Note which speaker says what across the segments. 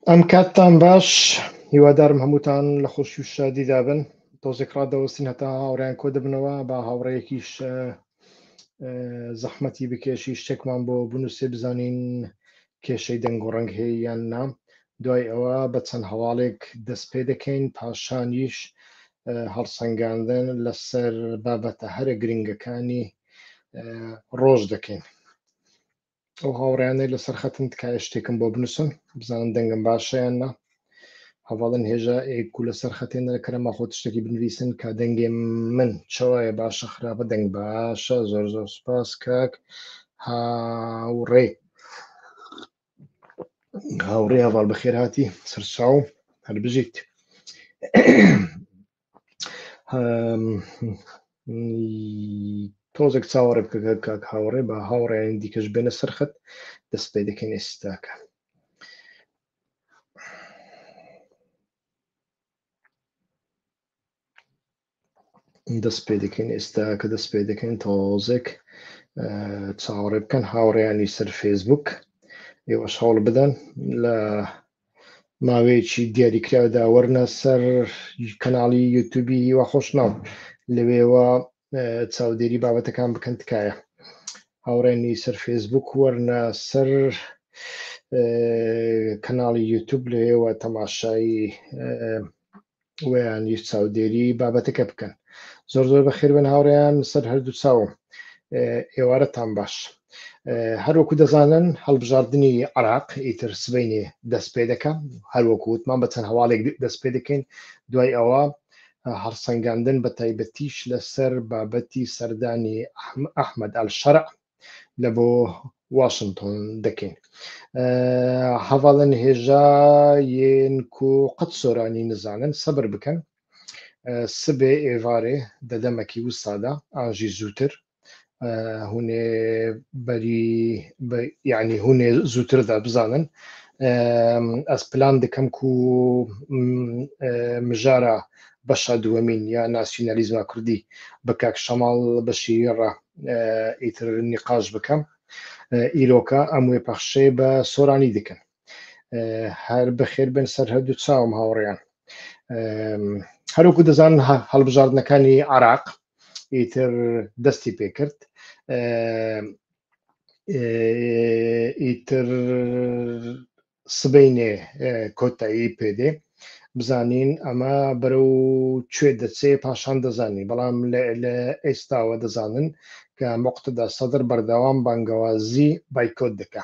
Speaker 1: ئەم کاتتان باش هیوادارم هەمووتان لە خۆشی و شادیدا بن تۆزێک ڕادەوەستین هەتا هاوڕیان کۆ دەبنەوە با هاوڕەیەکیش زەحمەتی بکێشی شتێکمان بۆ بنووسێ بزانین کێشەی دەنگ و ڕەنگ هەیە یان نام دوای ئەوە بە چەند هەواڵێک دەست پێ دەکەین پاشانیش هەڵسەنگاندن لەسەر بابەتە هەرە گرنگەکانی ڕۆژ دەکەین ئەو هاوڕیانەی لەسەر خەتن تکایە شتێکم بۆ بنووسن بزانم دەنگم باشیان نا هەواڵن هێژا ئێک و لەسەر خەتێنەرە کەرەمە خۆت شتێکی بنویسن کە دەنگێ من چاوایە باشە خراپە دەنگ باشە زۆر زۆر سپاس کاک هاوڕێ هاوڕێ هەواڵ بەخێر هاتی سەرچاو هەر بژیت تۆزێک چاوەڕێ بکە کاک هاوڕێ بە هاوڕێیان دیکەش بێنە سەرخەت دەست پێ دەکەین ئێستاکە دەست پێ دەکەین ئێستا کە دەست پێ دەکەین تۆزێک چاوەڕێ بکەن هاوڕێیانی سەر فێسبوک ئێوەش هەوڵ بدەن لە ماوەیەکی دیاریکراودا وەرنە سەر کەناڵی یوتوبی هیوا خۆشناو لەوێوە چاودێری بابەتەکان بکەن تکایە هاوڕێنی سەر فێسبوک وەرنە سەر کەناڵی یوتوب لەوێوە تەماشایی ویانیش چاودێری بابەتەکە بکەن زۆر زۆر بەخێربن هاوڕێیان سەر هەردوو چاوم ئێوارەتان باش هەروەکو دەزانن هەڵبژاردننی عراق ئیتر سبینێ دەست پێ دەکە هەروەکو وتمان بە چەند هەواڵێک دەست پێ دەکەین دوای ئەوە هەرسەنگاندن بە تایبەتیش لەسەر بابەتی سەردانی ئەحمد ئەل شەرع لە بۆ واشنتۆن دەکەین هەواڵن هێژا یەن کو قەت سۆرانی نزانن سەبر بکەن سبێ ئێوارێ دەدەمەکی وسادا ئاژی زووتر هوێ بەری یعنی هوێ زووتردا بزانن ئەس پلان دکەم کو مژارە بەشە دووەمین یا ناسیۆنالیزما کوردی بە کاک شەماڵ بەشی ڕە ئیتر نیقاش بکەم ئیرۆکە ئەم وێ پەخشەیە بە سۆرانی دکن هەر بەخێر بن سەر هەردوو چاوم هاوڕێیان هەروکو دەزان هەڵبژاردنەکانی عراق ئیتر دەستی پێکرد ئیتر سبەینێ کۆتایی پێدێ بزانین ئەمە بەرەو کوێ دەچێ پاشان دەزانین بەڵام لە ئێستاوە دەزانن کە مقتدا سەدر بەردەوام بانگەوازی بایکۆت دەکە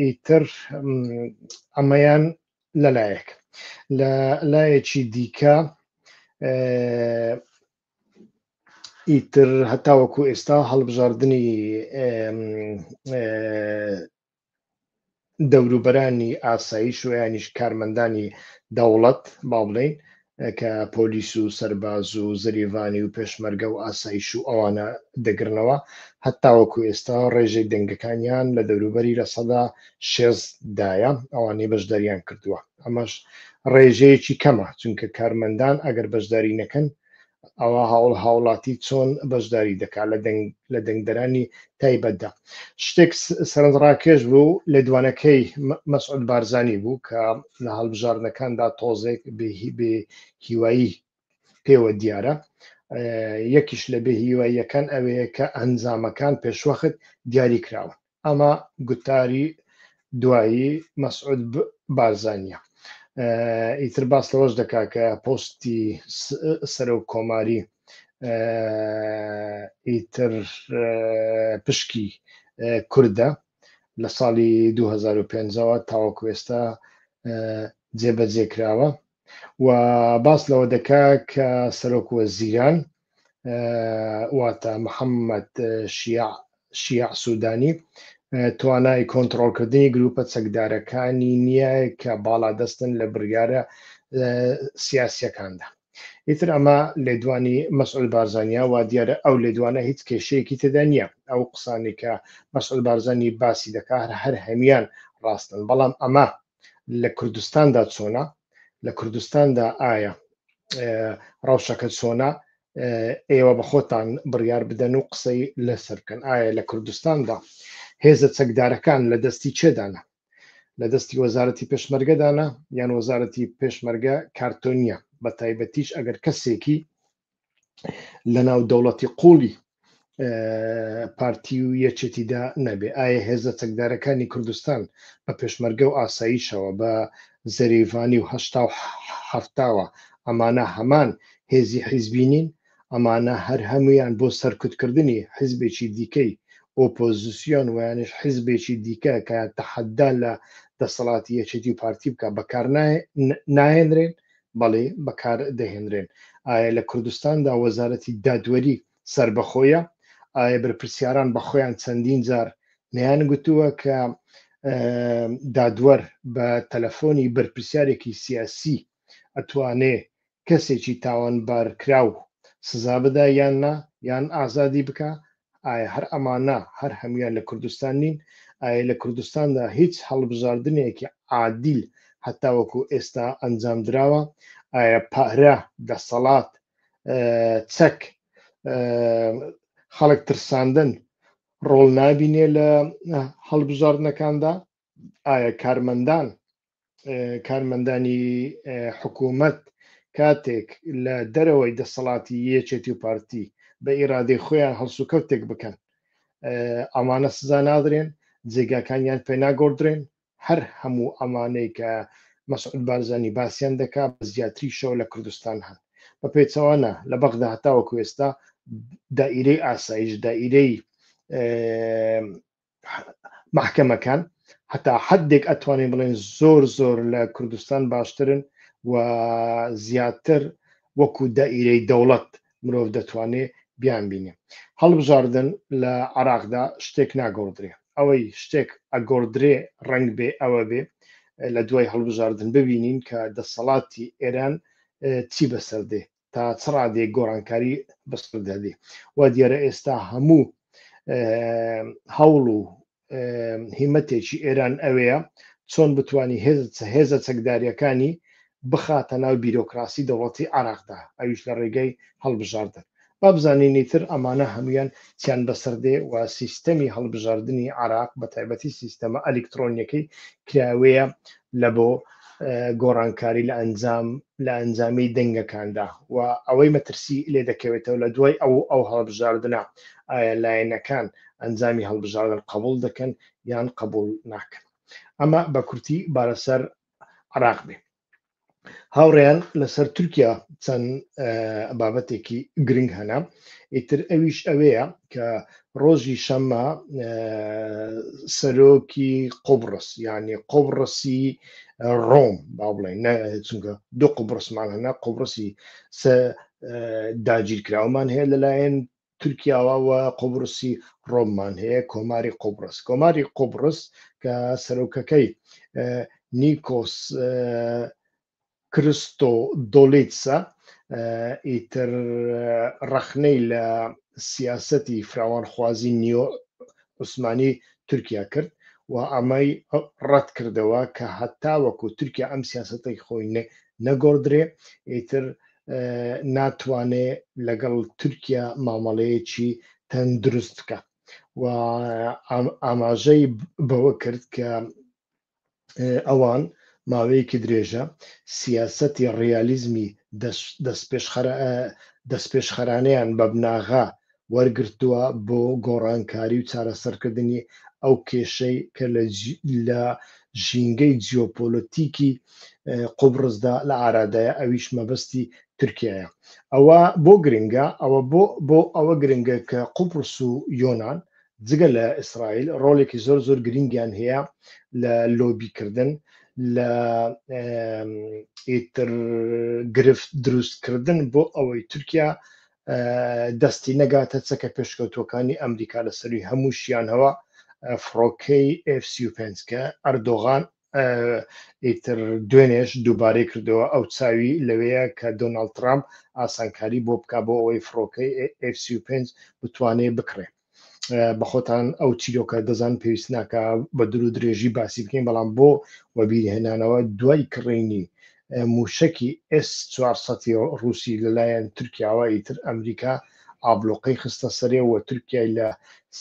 Speaker 1: ئیتر ئەمەیان لەلایەک لە لایەکی دیکە ئیتر هەتاوەکو ئێستا هەڵبژاردننی دەوروبەرانی ئاسایش و یانیش کارمەندانی دەوڵەت با بڵێین کە پۆلیس و سەرباز و زریڤانی و پێشمەرگە و ئاسایش و ئەوانە دەگرنەوە هەتاوەکو ئێستا ڕێژەی دەنگەکانیان لە دەوروبەری لە سەدا شێزدایە ئەوانەی بەشداریان کردووە ئەمەش ڕێژەیەکی کەمە چونکە کارمەندان ئەگەر بەشداری نەکەن ئەوا هاوڵ هاوڵاتی چۆن بەشداری دەکات لە دەنگ لە دەنگدەرانی تایبەتدا شتێک سەرنجڕاکێش بوو لە دوانەکەی مەسعود بارزانی بوو کە لە هەڵبژاردنەکاندا تۆزێک بێ هیوایی پێوە دیارە یەکیش لە بێ هیواییەکان ئەوەیە کە ئەنجامەکان پێشوەخت دیاری کراون ئەمە گوتاری دوایی مەسعود بارزانیە ئیتر باس لەوەش دەکا کە پۆستی سەرۆ کۆماری ئیتر پشکی کوردە لە ساڵی 2005ەوە تاوەکوێستا جێبەجێکراوە و باس لەوە دەکا کە سەرۆک وەزیران واتە محەممەد شیاع شیاع سوودانی توانای کۆنتترۆلکردنی گروپە چەکدارەکانی نییە کە باڵادەستن لە بڕیارە سیاسیەکاندا ئیتر ئەمە لێدوانی مەسعود بارزانیا وا دیارە ئەو لێدوانە هیچ کێشەیەکی تێدا نییە ئەو قسانی کە مەسعود بارزانانی باسی دەکات هەر هەر هەمیان ڕاستن بەڵام ئەمە لە کوردستاندا چۆنە لە کوردستاندا ئایا ڕەوشەکە چۆنە ئێوە بە خۆتان بڕیار بدەن و قسەی لەسەر بکەن ئایا لە کوردستاندا هێزە چەکدارەکان لە دەستی چێدانە لە دەستی وەزارەتی پێشمەرگەدانە یان وەزارەتی پێشمەرگە کارتۆنیە بە تایبەتیش ئەگەر کەسێکی لەناو دەوڵەتی قوڵی پارتی و یەکێتیدا نەبێ ئایا هێزە چەکدارەکانی کوردستان بە پێشمەرگە و ئاساییشەوە بە زەریڤانی و هەشتا و هەفتاوە ئەمانە هەمان هێزی حیزبی نین ئەمانە هەر هەمویان بۆ سەرکوتکردنی حیزبێکی دیکەی ئۆپۆزیسیۆن ویانش حیزبێکی دیکە کە تەحەدا لە دەسەڵاتی یەکێتی و پارتی بکە بەکار نایەنرێن بەڵی بەکار دەهێنرێن ئایا لە کوردستاندا وەزارەتی دادوەری سەربەخۆیە ئایا بەرپرسیاران بە خۆیان چەندین جار نیان گوتووە کە دادوەر بە تەلەفۆنی بەرپرسیارێکی سیاسی ئەتوانێ کەسێکی تاوان بارکراو سزا بدا یان نا یان ئازادی بکە ئایا هەر ئەمانە هەر هەموویان لە کوردستان نین؟ ئایا لە کوردستاندا هیچ هەڵبژاردنێکی عادیل هەتاوەکو ئێستا ئەنجامدراوە؟ ئایا پارە، دەسەڵات، چەک، خەڵک ترساندن ڕۆڵ نابینێ لە هەڵبژاردنەکاندا؟ ئایا کارمەندان کارمەندانی حکوومەت کاتێک لە دەرەوەی دەسەڵاتی یەکێتی و پارتی بە ئیرادەی خۆیان هەڵسوکەوتێک بکەن ئەمانە سزا نادرێن جێگاکانیان پێناگۆدرێن هەر هەموو ئەمانەی کە مەسعود بارزانانی باسییان دەکا بە زیاتری شەو لە کوردستان هەن بە پێچەوانە لە بەغدا هەتاوە کوێستا دائیرەی ئاسایش دائیرەی محکەمەکان هەتا حدێک ئەتوانین بڵێن زۆر زۆر لە کوردستان باشترن و زیاتر وەکو دائیرەی دەوڵەت مرۆڤ دەتوانێت بیان بینێ هەڵبژاردن لە عراقدا شتێک ناگۆڕدرێ ئەوەی شتێک ئەگۆڕدرێ ڕنگ بێ ئەوە بێ لە دوای هەڵبژاردن ببینین کە دەسەڵاتی ئێران چی بەسەردێ تا چ ڕادێک گۆڕانکاری بەسەر دەدی وا دیارە ئێستا هەموو هەوڵ و هیمەتێکی ئێران ئەوەیە چۆن بتانی هێزە چەکداریەکانی بخاتە ناو بیرۆکراسی دەوڵەتی عراقدا ئەویش لە ڕێگەی هەڵبژاردن با بزانینی تر ئەمانە هەمویان چیان بەسەردێ و سیستەمی هەڵبژاردننی عراق بە تایبەتی سیستەمە ئەلکترۆنیەکەی کراوەیە لە بۆ گۆڕانکاری لە ئەنجام لە ئەنجامی دەنگەکاندا و ئەوەی مەترسی لێ دەکەوێتەوە لە دوای ئەو ئەو هەڵبژاردنە ئایا لایەنەکان ئەنجامی هەڵبژاردن قبول دەکەن یان قبول ناکەن ئەمە بە کورتی بارەسەر عراق بێ هاوڕێیان لەسەر تورکیا چەند بابەتێکی گرنگ هەنا ئیتر ئەویش ئەوەیە کە ڕۆژی شەممە سەرۆکی قۆبڕس یعنی قۆبڕسی ڕۆم با بڵێن چونکە دوو قوبڕسمان هەنا قوبڕسی داگیرکراومان هەیە لەلایەن تورکیاوە و قوبرسی ڕۆممان هەیە کۆماری قوبرس کۆماری قوبرس کە سەرۆکەکەی نیکۆس کرستۆ دۆلیتسە ئیتر ڕەخنەی لە سیاسەتی فراوانخوازی نیۆ عوسمانی تورکیا کرد و ئەمەی ڕەت کردەوە کە هەتا وەکو تورکیا ئەم سیاستەی خۆی نەگۆدرێ ئیتر ناتوانێ لەگەڵ تورکیا مامەڵەیەکی تەندروست بکە و ئاماژەی بەوە کرد کە ئەوان ماوەیەکی درێژە سیاسەتی ڕیالیزمی دەست پێشخەرانیان بە بناغا وەرگرتووە بۆ گۆڕانکاری و چارەسەرکردنی ئەو کێشەی کە لە ژینگەی جیۆپۆلەتیکی قوبڕسدا لە ئارادایە ئەویش مەبەستی تورکیایە ئەوە بۆ گرنگە ئەوە بۆ بۆ ئەوە گرنگە کە قوبڕس و یۆناان جگە لە ئیسرائیل ڕۆڵێکی زۆر زۆر گرنگیان هەیە لە لۆبیکردن لە ئیتر گرفت دروستکردن بۆ ئەوەی تورکیا دەستی نەگاتە چەکە پێشکەوتووەکانی ئەمریکا لە سەروی هەموو شیانەوە فڕۆکەی F35 کە ئەردۆغان ئیتر دوێنێش دووبارەی کردەوە ئەو چاوی لەوەیە کە دۆناالد ترامپ ئاسانکاری بۆ بک بۆ ئەوەی فڕۆکەی F35 بتوانێ بکڕێت بە خۆتان ئەو چیرۆکە دەزان پێویست ناکە بە درو درێژی باسی بکەین بەڵام بۆ وەبیرهێنانەوە دوای کڕینی موشکی ئس 400 رووسی لەلایەن تورکیاوە ئیتر ئەمریکا ئابلۆقەی خستە سەرێ و تورکای لە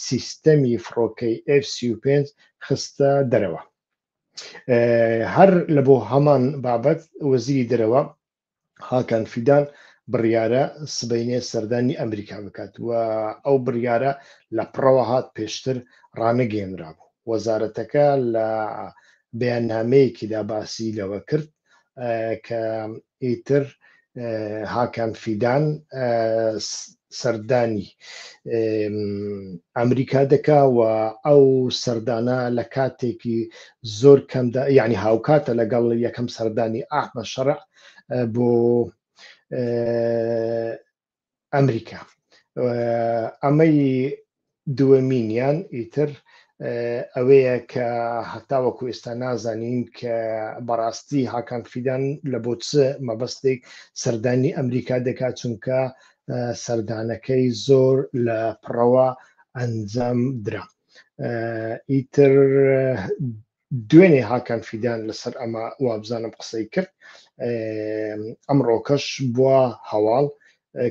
Speaker 1: سیستەمی فڕۆکەی F35 خستە دەرەوە هەر لە بۆ هەمان بابەت وەزیری دەرەوە هاکان فیدان بڕیارە سبەینێ سەردانی ئەمریکا بکات و ئەو بڕیارە لە پڕەوە هات پێشتر ڕانەگەێنرا بوو وەزارەتەکە لە بەیاننامەیەکیدا باسی لەوە کرد کە ئیتر هاکان فیدان سەردانی ئەمریکا دەکا و ئەو سەردانە لە کاتێکی زۆر کەمدا یعنی هاوکاتە لەگەڵ یەکەم سەردانی ئاحمە شەڕ بۆ ئەمریکا ئەمەی دووەمینیان ئیتر ئەوەیە کە هەتاوەکو ئێستا نازانین کە بەڕاستی هاکان فیدان لە بۆ چ مەبەستێک سەردانی ئەمریکا دەکات چونکە سەردانەکەی زۆر لە پڕەوە ئەنجام درا ئیتر دوێنێ هاکان فیدان لەسەر ئەمە وابزانم قسەی کرد ئەمڕۆکەش بووە هەواڵ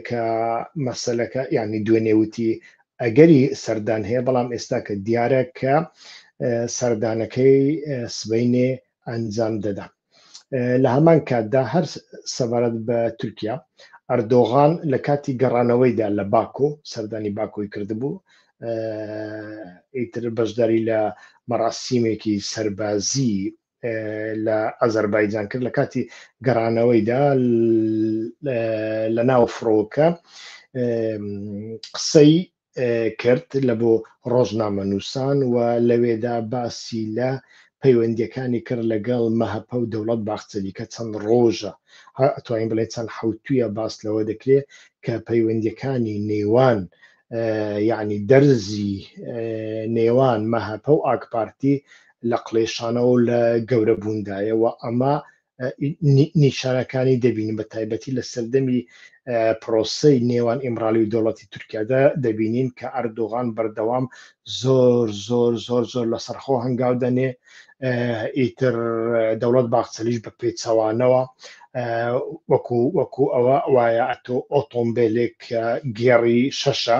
Speaker 1: کە مەسلەکە یعنی دوێنێ وتی ئەگەری سەردان هەیە بەڵام ئێستا کە دیارە کە سەردانەکەی سبینێ ئەنجام دەدەن لە هەمان کاتدا هەر سەبارەت بە تورکیا ئەردۆغان لە کاتی گەڕانەوەیدا لە باکۆ سەردانی باکۆی کردبوو ئیتر بەشداری لە مەراسیمێکی سەربازی لە ئازەربایجان کرد لە کاتی گەڕانەوەیدا لە ناو فڕۆکە قسەی کرد لە بۆ ڕۆژنامەنووسان و لەوێدا باسی لە پەیوەندیەکانی کرد لەگەڵ مەهەپە و دەوڵەت باخچەلی کە چەند ڕۆژە ئەتوانین بڵێ چەند حوتویە باس لەوە دەکرێت کە پەیوەندیەکانی نێوان یعنی دەرزی نێوان مەهەپە و ئاکپارتی لە قڵێشانەوە لە گەورە بووندایەوە ئەمە نیشانەکانی دەبینین بە تایبەتی لە سەردەمی پرۆسی نێوان ئیمرالی و دەوڵەتی تورکیادا دەبینین کە ئەردۆغان بەردەوام زۆر زۆر زۆر زۆر لە سەرخۆ هەنگاو دەنێ ئیتر دەوڵەت باخچەلیش بە پێچەوانەوە وەکو وەکو ئەوە وایە ئەتۆ ئۆتۆمبیلێک گێڕی شەشە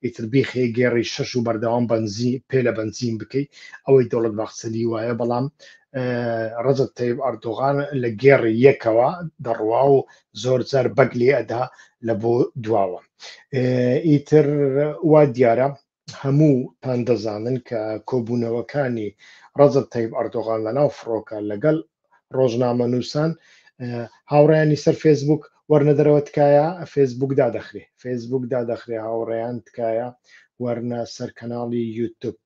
Speaker 1: ئیتر بیخێ گێڕی شەش و بەردەوام بنزی پێ لە بنزین بکەیت ئەوەی دەوڵەت باخچەلی وایە بەڵام ڕزت تەیب ئەردۆغان لە گێڕ یەکەوە دەڕوا و زۆر زار بەگ لێ ئەدا لە بۆ دواوە ئیتر وا دیارە هەموو تان دەزانن کە کۆبوونەوەکانی ڕزت تەیب ئەردۆغان لە ناو فڕۆکە لەگەڵ ڕۆژنامە نووسان هاوڕیانی سەر فێسبوک وەرنەدەرەوە تکایە فێسبوک دادەخرێ فێسبوک دادەخرێ هاوڕێیان تکایە وەرنە سەر کەناڵی یوتوب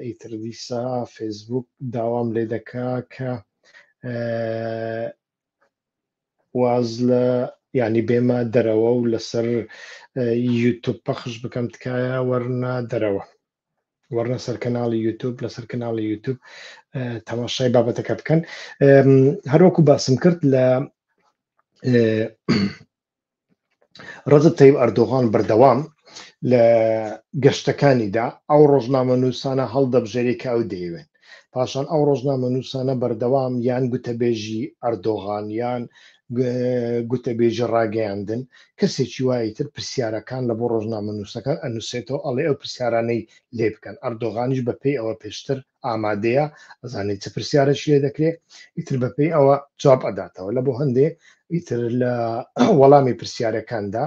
Speaker 1: ئیتر دیسا فێسبوک داوام لێ دەکا کە واز لە ینی بێمە دەرەوە و لەسەر یوتوب پەخش بکەم تکایە وەرنە دەرەوە وەرنە سەر کەناڵی یوتوب لەسەر کەناڵی یوتوب تەماشای بابەتەکە بکەن هەروەکو باسم کرد لە ڕەجەب تەیب ئەردۆغان بەردەوام لە گەشتەکانیدا ئەو ڕۆژنامەنووسانە هەڵدەبژێری کە ئەو دەیەوێن پاشان ئەو ڕۆژنامەنووسانە بەردەوام یان گوتەبێژی ئەردۆغان یان گوتەبێژی ڕاگەیاندن کەسێکی وایە تر پرسیارەکان لە بۆ ڕۆژنامەنووسەکان ئەنووسێتەوە ئەڵێ ئەو پرسیارانەی لێ بکەن ئەردۆغانیش بەپێی ئەوە پێشتر ئامادەیە ئەزانێت چ پرسیارەش لێ دەکرێت ئیتر بەپێی ئەوە جواب ئەداتەوە لە بۆ هەندێ ئیتر لە وەڵامی پرسیارەکاندا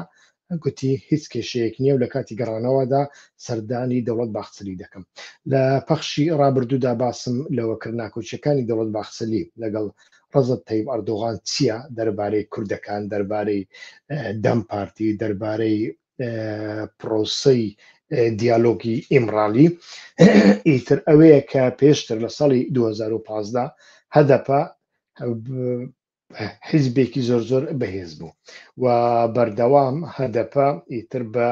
Speaker 1: گوتی هیچ کێشەیەک نییە و لە کاتی گەڕانەوەدا سەردانی دەوڵەت باخچەلی دەکەم لە پەخشی ڕابردوودا باسم لەوە کرد ناکۆچیەکانی دەوڵەت باخچەلی لەگەڵ ڕزت تەیب ئەردۆغان چییە دەربارەی کوردەکان دەربارەی دەم پارتی دەربارەی پڕۆسەی دیالۆگی ئیمڕالی ئیتر ئەوەیە کە پێشتر لە ساڵی 2015 هەدەپە حیزبێکی زۆر زۆر بەهێز بوو و بەردەوام هەدەپە ئیتر بە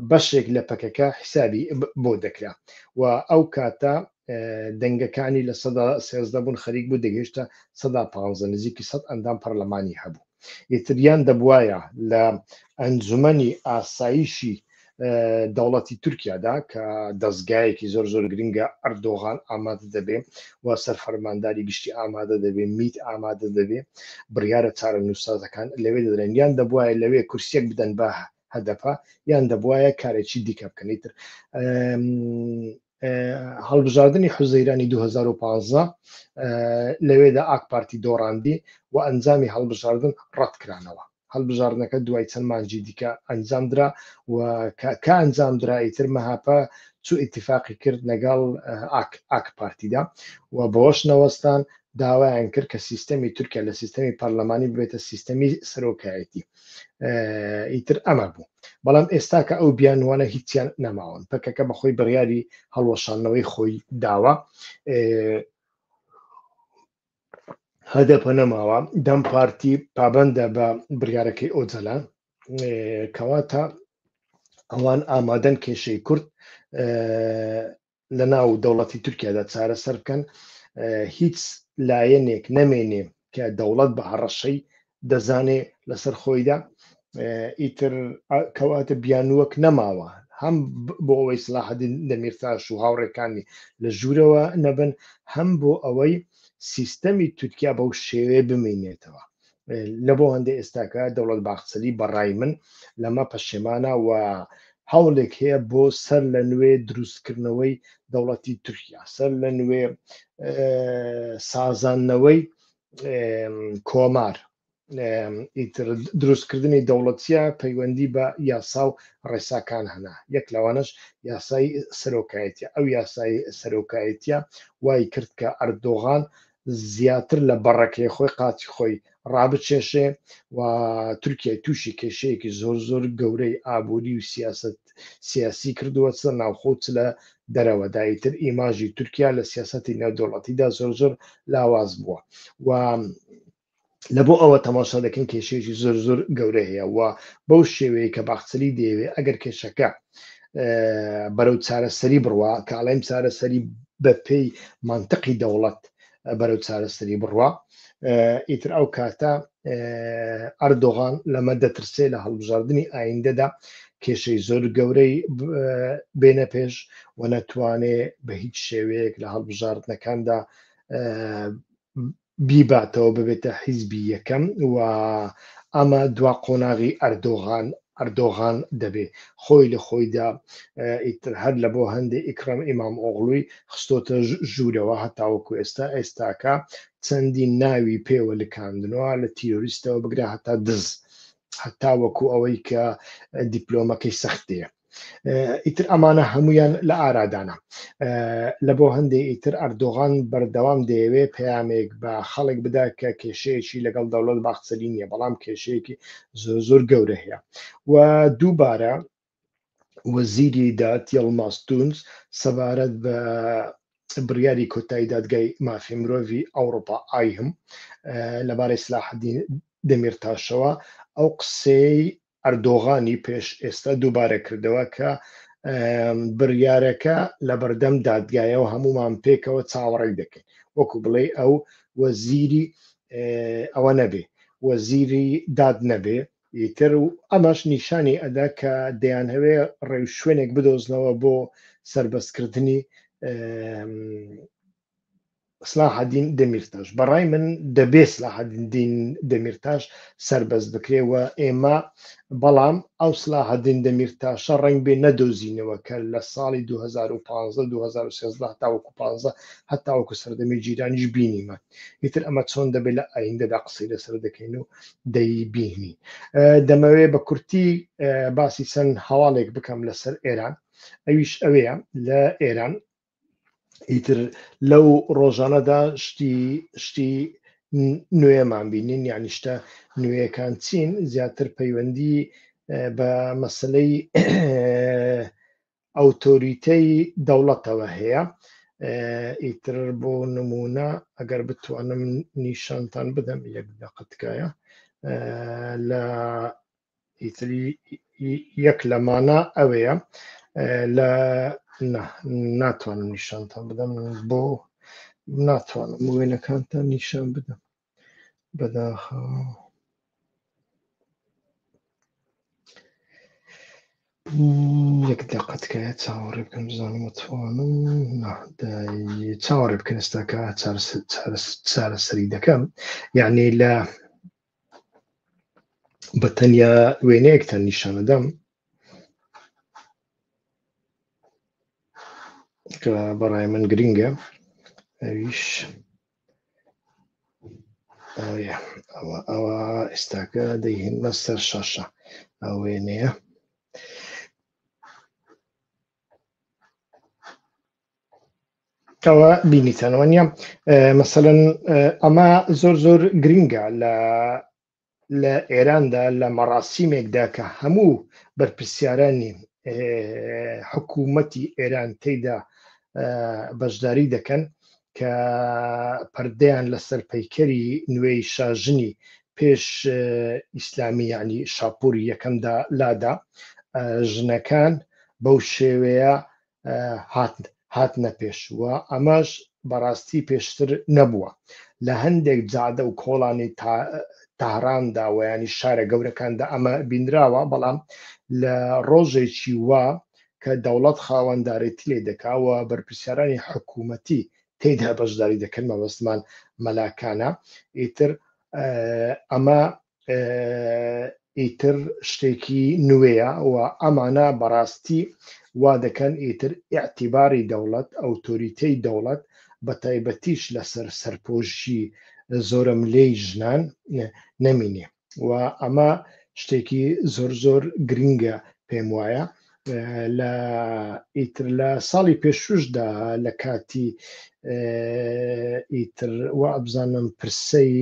Speaker 1: بەشێک لە پەکەکە حیسابی بۆ دەکرا و ئەو کاتە دەنگەکانی لە سەدا سێزدە بوون خەریک بوو دەگەیشتە سەدا پانزە نزیکی سەد ئەندام پەرلەمانی هەبوو ئیتریان دەبواە لە ئەنجومەنی ئاسایشی دەوڵەتی تورکیادا کە دەستگایەکی زۆر زۆر گرنگە ئەردۆغان ئامادە دەبێ و سەر فەرمانداری گشتی ئامادە دەبێ میت ئامادە دەبێ بڕیاە چارە نووسازەکان لەوێ دەدرێن یان دەبواە لەوێ کورسێک بدەن بە هەدەپە یان دەبواە کارێکی دیکە بکەنیتر هەڵبژاردنی حوزەیرانی دوو هەزار و پازدە لەوێدا ئاک پارتی دۆڕاندی و ئەنجامی هەڵبژاردن ڕەتکرانەوە هەڵبژاردنەکە دوای چەند مانجی دیکە ئەنجام درا و کە ئەنجام درا ئیتر مەهاپە چو ئیتفاقی کرد لەگەڵ ئاک ئاک پارتیدا و بەوەش نەوەستان داوایان کرد کە سیستەمی تورکیا لە سیستەمی پەرلەمانی ببێتە سیستەمی سەرۆکایەتی ئیتر ئەمە بوو بەڵام ئێستا کە ئەو بیانوانە هیچیان نەماون پەکەکە بەخۆی بڕیاری هەڵوەشانەوەی خۆی داوە هەدەپە نەماوە دەم پارتی پابندە بە بڕارەکەی ئۆجەلان کەواتە ئەوان ئامادەن کێشەی کورد لە ناو دەوڵەتی تورکیادا چارەسەر بکەن هیچ لایەنێک نەمێنێ کە دەوڵەت بە هەڕەشەی دەزانێ لەسەر خۆیدا ئیتر کەواتە بیانووەک نەماوە هەم بۆ ئەوەی سلاحدین دەمیرتاش و هاوڕێکانی لە ژوورەوە نەبن هەم بۆ ئەوەی سیستەمی تورکیا بەو شێوێ بمینێتەوە لە بۆ هەندە ئێستاکە دەوڵەت باخچەلی بەڕای من لەمە پەشێمانە و هەوڵێک هەیە بۆ سەر لە نوێ دروستکردنەوەی دەوڵەتی تورکیا سەر لە نوێ سازانەوەی کۆمار دروستکردنی دەوڵەتە پەیوەندی بە یاسا و ڕێساکان هەنا یەک لەوانش یاسای سەرۆکایەتە ئەو یاسای سەرۆکایەتە وای کرد کە ئەردۆغان زیاتر لە بەڕەکەی خۆی قاچی خۆی ڕابچێشێ و تورکیای تووشی کێشەیەکی زۆر زۆر گەورەی ئابووری و سیاست سیاسی کردووە چ ناوخۆت لە دەرەوەداییتر ئیماژی تورکیا لە سیاستی نێودوڵەتیدا زۆر زۆر لاواز بووە و لە بۆ ئەوە تەماشا دەکەین کێشەیەکی زۆر زۆر گەورە هەیە و بەو شێوەیە کە باخچەلی دەیەوێ ئەگەر کێشەکە بەرەو چارەسەری بڕوا کە ئاڵێم چارەسەری بە پێی منطقی دەوڵەت بەرەو چارەسەری بڕوا ئیتر ئەو کاتە ئەردۆغان لەمە دەترسێ لە هەڵبژاردننی ئایندەدا کێشەی زۆر گەورەی بێنە پێش و نەتوانێ بە هیچ شێوەیەک لە هەڵبژاردنەکاندا بیباتەوە ببێتە حیزبی یەکەم و ئەمە دوا قۆناغی ئەردۆغان ئەردۆغان دەبێ خۆی لە خۆیدا ئیتر هەر لە بۆ هەندێ ئیکڕەم ئیمام ئۆغڵوی خستۆتە ژوورەوە هەتاوەکو ئێستا ئێستاکە چەندین ناوی پێوە لکاندنەوە لە تیرۆریستەوە بگرە هەتا دز هەتاوەکو ئەوەی کە دیپلۆمەکەی سەختەیە ئیتر ئەمانە هەمویان لە ئارادانە لە بۆ هەندێک ئیتر ئەردۆغان بەردەوام دەیەوێ پەیامێک بە خەڵک بدا کە کێشەیەکی لەگەڵ دەوڵەت باخچەلی نییە بەڵام کێشەیەکی زۆر زۆر گەورە هەیە و دووبارە وەزیری داد یڵماس تونس سەبارەت بە بڕیاری کۆتایی دادگای مافی مرۆڤی ئەوروپا ئایهم لەبارەی سلاحدین دەمیرتاشەوە ئەو قسەی ئەردۆغانی پێش ئێستا دووبارە کردەوە کە بڕیارەکە لە بەردەم دادگایەوە هەمومان پێکەوە چاوەڕێک دەکەین وەکو بڵێ ئەو وەزیری ئەوە نەبێ وەزیری داد نەبێ ئیتر و ئەمەش نیشانی ئەدا کە دەیان هەوێ ڕێو شوێنێک بدۆزنەوە بۆ سربەستکردنی سلاحدین دەمیرتاش بەڕای من دەبێ سلاحدین دەمیرتاش سربەز بکرێ و ئێمە بەڵام ئەو سلاحدین دەمیرتاشە ڕنگ بێ نەدۆزینەوە کە لە ساڵی 2015 2013 تاوەکو 15 هەتاوەکو سەردەمی جیرانیش بینیمە ئیتر ئەمە چۆن دەبێت لە ئایندەدا قسەی لەسەر دەکەین و دەیبینی دەمەوێ بە کورتی باسی چەند هەواڵێک بکەم لەسەر ئێران ئەویش ئەوەیە لە ئێران ئیتر لەو ڕۆژانەدا شتی شتی نوێمان بینین یعنی شتە نوێیەکان چین زیاتر پەیوەندی بە مەسلەی ئەوتۆریتەی دەوڵەتەوە هەیە ئیتر بۆ نمونە ئەگەر بتوانم نیشانتان بدەم یەک دەقتکایە لە ئیتری یەک لە مانا ئەوەیە لە ناتوانم نیشانتان بدەم بۆ ناتوانم وێنەکانتان نیشان بدەم بەداخە یەک دەقەتکایە چاوەڕێ بکەم بزانم توانم چاوەڕێ بکەنستاکە چارەسەری دەکەم یعنی لە بە تەنیا وێنەیەکتان نیشانەدەم کە بەڕای من گرنگە ئەویش ئەوە ئەوە ئێستاکە دەیهێنە سەر شاشە ئەو وێنەیە کەوە بینیتەنەوە نیە مەسەن ئەمە زۆر زۆر گرنگە لە لە ئێراندا لە مەڕاستیمێکدا کە هەموو بەرپرسیارانی حکوومەتی ئێران تێدا بەشداری دەکەن کە پردیان لەسەر پەیکەری نوێی شاژنی پێش ئیسلامی ینی شاپوری یەکەمدا لادا ژنەکان بەو شێوەیە هاتنە پێش و ئەمەش بەڕاستی پێشتر نەبووە لە هەندێک جادە و کۆڵانی تاراندا و ینی شارە گەورەکاندا ئەمە بینراوە بەڵام لە ڕۆژێکی وا کە دەوڵەت خاوەندارێتی لێ دەکاوە بەرپسیارانی حکوومەتی تێدا بەشداری دەکەن مەبەستمان مەلاکانە ئیتر ئەمە ئیتر شتێکی نوێیە و ئەمانە بەڕاستی وا دەکەن ئیتر ئیعتیباری دەوڵەت ئەوتۆریتەی دەوڵەت بە تایبەتیش لەسەر سەرپۆشی زۆرە ملێی ژنان نەمینێ و ئەمە شتێکی زۆر زۆر گرنگە پێم وایە لە ئیتر لە ساڵی پێشوشدا لە کاتی ئیتر و ئەبزانم پرسەی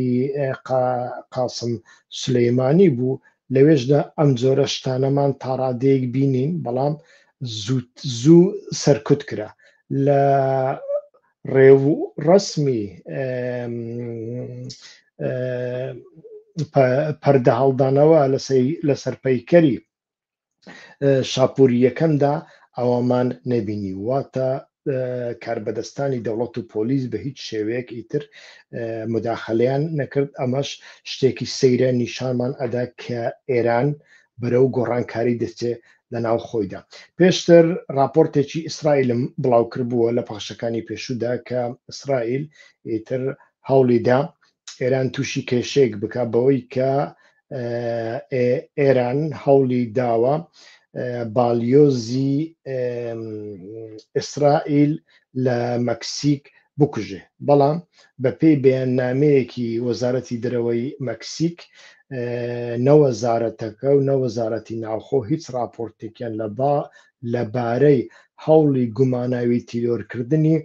Speaker 1: قاسم سلەیمانی بوو لەوێشدا ئەم جۆرە شتانەمان تاڕادەیەک بینین بەڵام زووت زوو سەرکوت کرا لە ڕێو ڕسمی پەردە هەڵدانەوە لەسەر پەیکەری شاپوورییەکەمدا ئەوەمان نەبینی واتە کاربەدەستانی دەوڵەت و پۆلیس بە هیچ شێوەیەک ئیتر مداخلیان نەکرد ئەمەش شتێکی سەیرە نیشانمان ئەدا کە ئێران بەرەو گۆڕانکاری دەچێ لە ناو خۆیدا پێشتر راپۆرتێکی ئیسرائیلم بڵاوکردبووە لە پاشەکانی پێشودا کە ئیسرائیل ئیتر هەوڵیدا ئێران تووشی کێشێک بک بەوەی کە ئێران هەوڵی داوە باڵیۆزی ئیسرائیل لە مەکسیک بکوژێ بەڵام بەپێی بەیاننامەیەکی وەزارەتی درەوەی مەکسیک نەوەزارەتەکە و نەوەزارەتی ناوخۆ هیچ راپۆرتێکیان لە با لەبارەی هەوڵی گوماناوی تیرۆرکردنی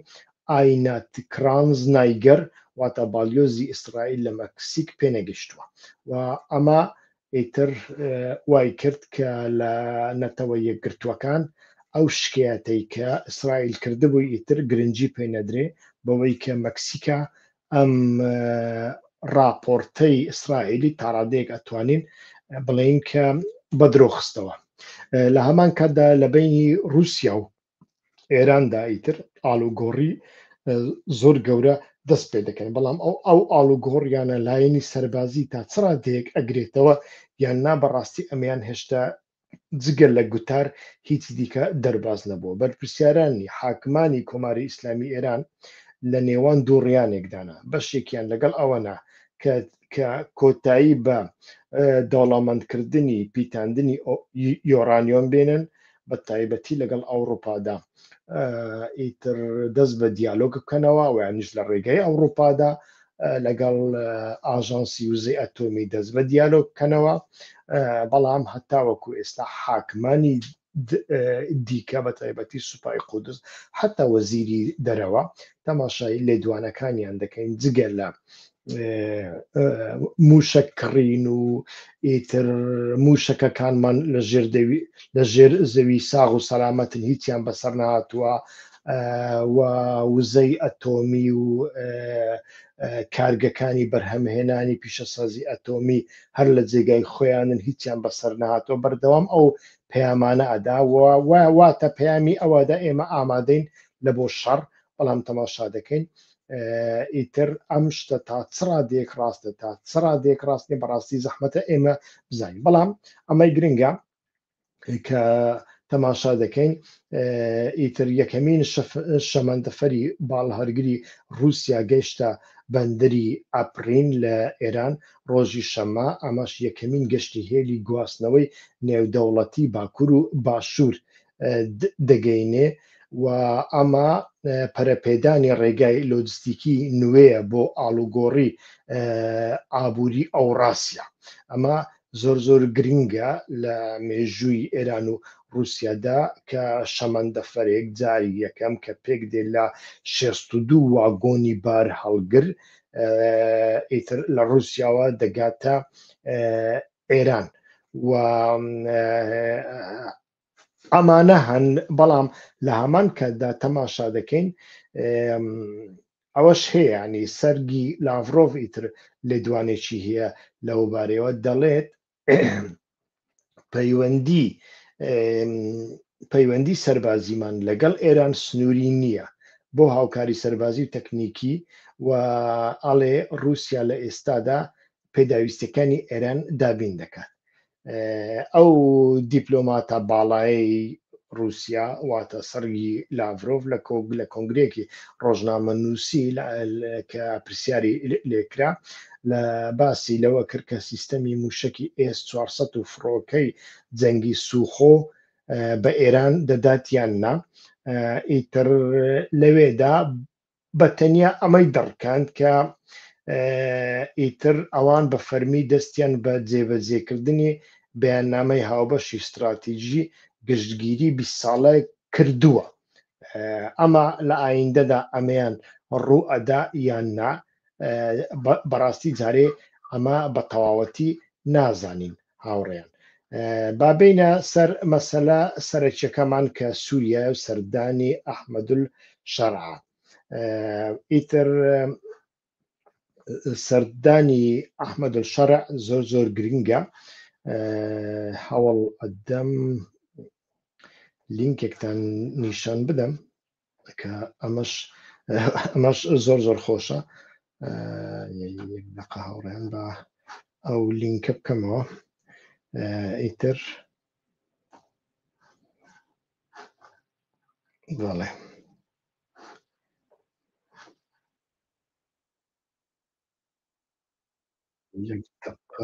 Speaker 1: ئاینات کرانز نایگەر واتە باڵیۆزی ئیسرائیل لە مەکسیک پێنەگەیشتووە و ئەمە ئیتر وایکرد کە لە نەتەوە یەکگرتووەکان ئەو شکایەتەی کە ئیسرائیل کردبووی ئیتر گرنگی پێ نەدرێ بەوەی کە مەکسیکا ئەم راپۆرتەی ئیسرائیلی تاڕادەیەک ئەتوانین بڵێین کە بە درۆخستەوە لە هەمان کاتدا لە بینی رووسیا و ئێراندا ئیتر ئالوگۆڕی زۆر گەورە دەست پێ دەکەن بەڵام ئەو ئەو ئالوگۆڕیانە لایەنی سەربازی تا چڕا دەیەک ئەگرێتەوە یان نا بەڕاستی ئەمیان هێشتا جگە لە گوتار هیچ دیکە دەرباز نەبووە بەرپرسیارانی حاکمانی کۆماری ئیسلامی ئێران لە نێوان دوو ڕیانێکدانا بەشێکیان لەگەڵ ئەوەنا کە کە کۆتایی بە دەوڵەمەندکردنی پیتاندنی یۆرانیۆم بێنن بە تایبەتی لەگەڵ ئەوروپادا ئیتر دەست بە دیالۆگ بکەنەوە ویانش لە ڕێگەی ئەوروپادا لەگەڵ ئاژانسی وزەی ئەتۆمی دەست بە دیالۆگ بکەنەوە بەڵام هەتاوەکو ئێستا حاکمانی دیکە بە تایبەتی سوپای قودس حەتا وەزیری دەرەوە تەماشای لێدوانەکانیان دەکەین جگە لە موشەک کڕین و ئیتر موشەکەکانمان لە ژێر زەوی ساغ و سەلامەتن هیچیان بەسەر نهاتووە و وزەی ئەتۆمی و کارگەکانی بەرهەمهێنانی پیشەسازی ئەتۆمی هەر لە جێگای خۆیانن هیچیان بەسەر نهاتۆ بەردەوام ئەو پەیامانە ئەدا واتە پەیامی ئەوەدا ئێمە ئامادەین لە بۆ شەڕ بەڵام تەماشا دەکەین ئیتر ئەم شتە تا چڕا دێک ڕاستە تا چڕا دێک ڕاستنی بەڕاستی زەحمەتە ئێمە بزانین بەڵام ئەمەی گرنگە کە تەماشا دەکەین ئیتر یەکەمین شەمەندەفەری باڵهەرگری رووسیا گەشتە بەندەری ئەپرین لە ئێران ڕۆژی شەمە ئەمەش یەکەمین گەشتی هێلی گواستنەوەی نێودەوڵەتی باکوور و باشوور دەگەینێ و ئەمە پەرەپێدانی ڕێگای لۆجستیکی نوێیە بۆ ئاڵوگۆڕی ئابووری ئەوڕاسیا ئەمە زۆر زۆر گرینگە لە مێژووی ئێران و ڕووسیادا کە شەمەندەفەرێک جاری یەکەم کە پێک دێ لە شێست و دوو واگۆنی بار هەڵگر ئیتر لە ڕووسیاوە دەگاتە ئێران و ئەمانە هەن بەڵام لە هەمان کاتدا تەماشا دەکەین ئەوەش هەیەنی سەرگی لاڤۆڤ ئیتر لێدوانێکی هەیە لەوبارەوە دەڵێت پەیوەندی پەیوەندی سەربازیمان لەگەڵ ئێران سنووری نییە بۆ هاوکاری سەربازی و تەکنیکی و ئەڵێ رووسیا لە ئێستادا پێداویستەکانی ئێران دابین دەکات ئەو دیپلۆماتە باڵایی رووسیا واتە سەرگی لاڤۆڤ لە کۆگ لە کۆنگرێکی ڕۆژنامە نووسی کە پرسیاری لێکرا لە باسی لەوە کرد کە سیستەمی موشکی ئێس 400 و فڕۆکەی جەنگی سوخۆ بە ئێران دەدات یان نا ئیتر لەوێدا بە تەنیا ئەمەی دەڕکاند کە ئیتر ئەوان بە فەرمی دەستیان بە جێبەجێکردنی بەیاننامەی هاوبەشی ستراتیژی گشتگیری بیست ساڵە کردووە، ئەمە لە ئاییندەدا ئەمەیان ڕوو ئەدا یان نا، بەڕاستی جارێ ئەمە بە تەواوەتی نازانین. هاوڕێیان با بینە سەر مەسەلا سەرەکیەکەمان کە سووریە و سەردانی ئەحمەدول شەرع ئیتر سەردانی ئەحمەدول شەرع زۆر زۆر گرنگە هەوڵ ئەدەم لینکێکتان نیشان بدەم کە ئەمەش ئەمەش زۆر زۆر خۆشە دقە هاوڕێن بە ئەو لینکە بکەمەوە ئیتر بەڵێ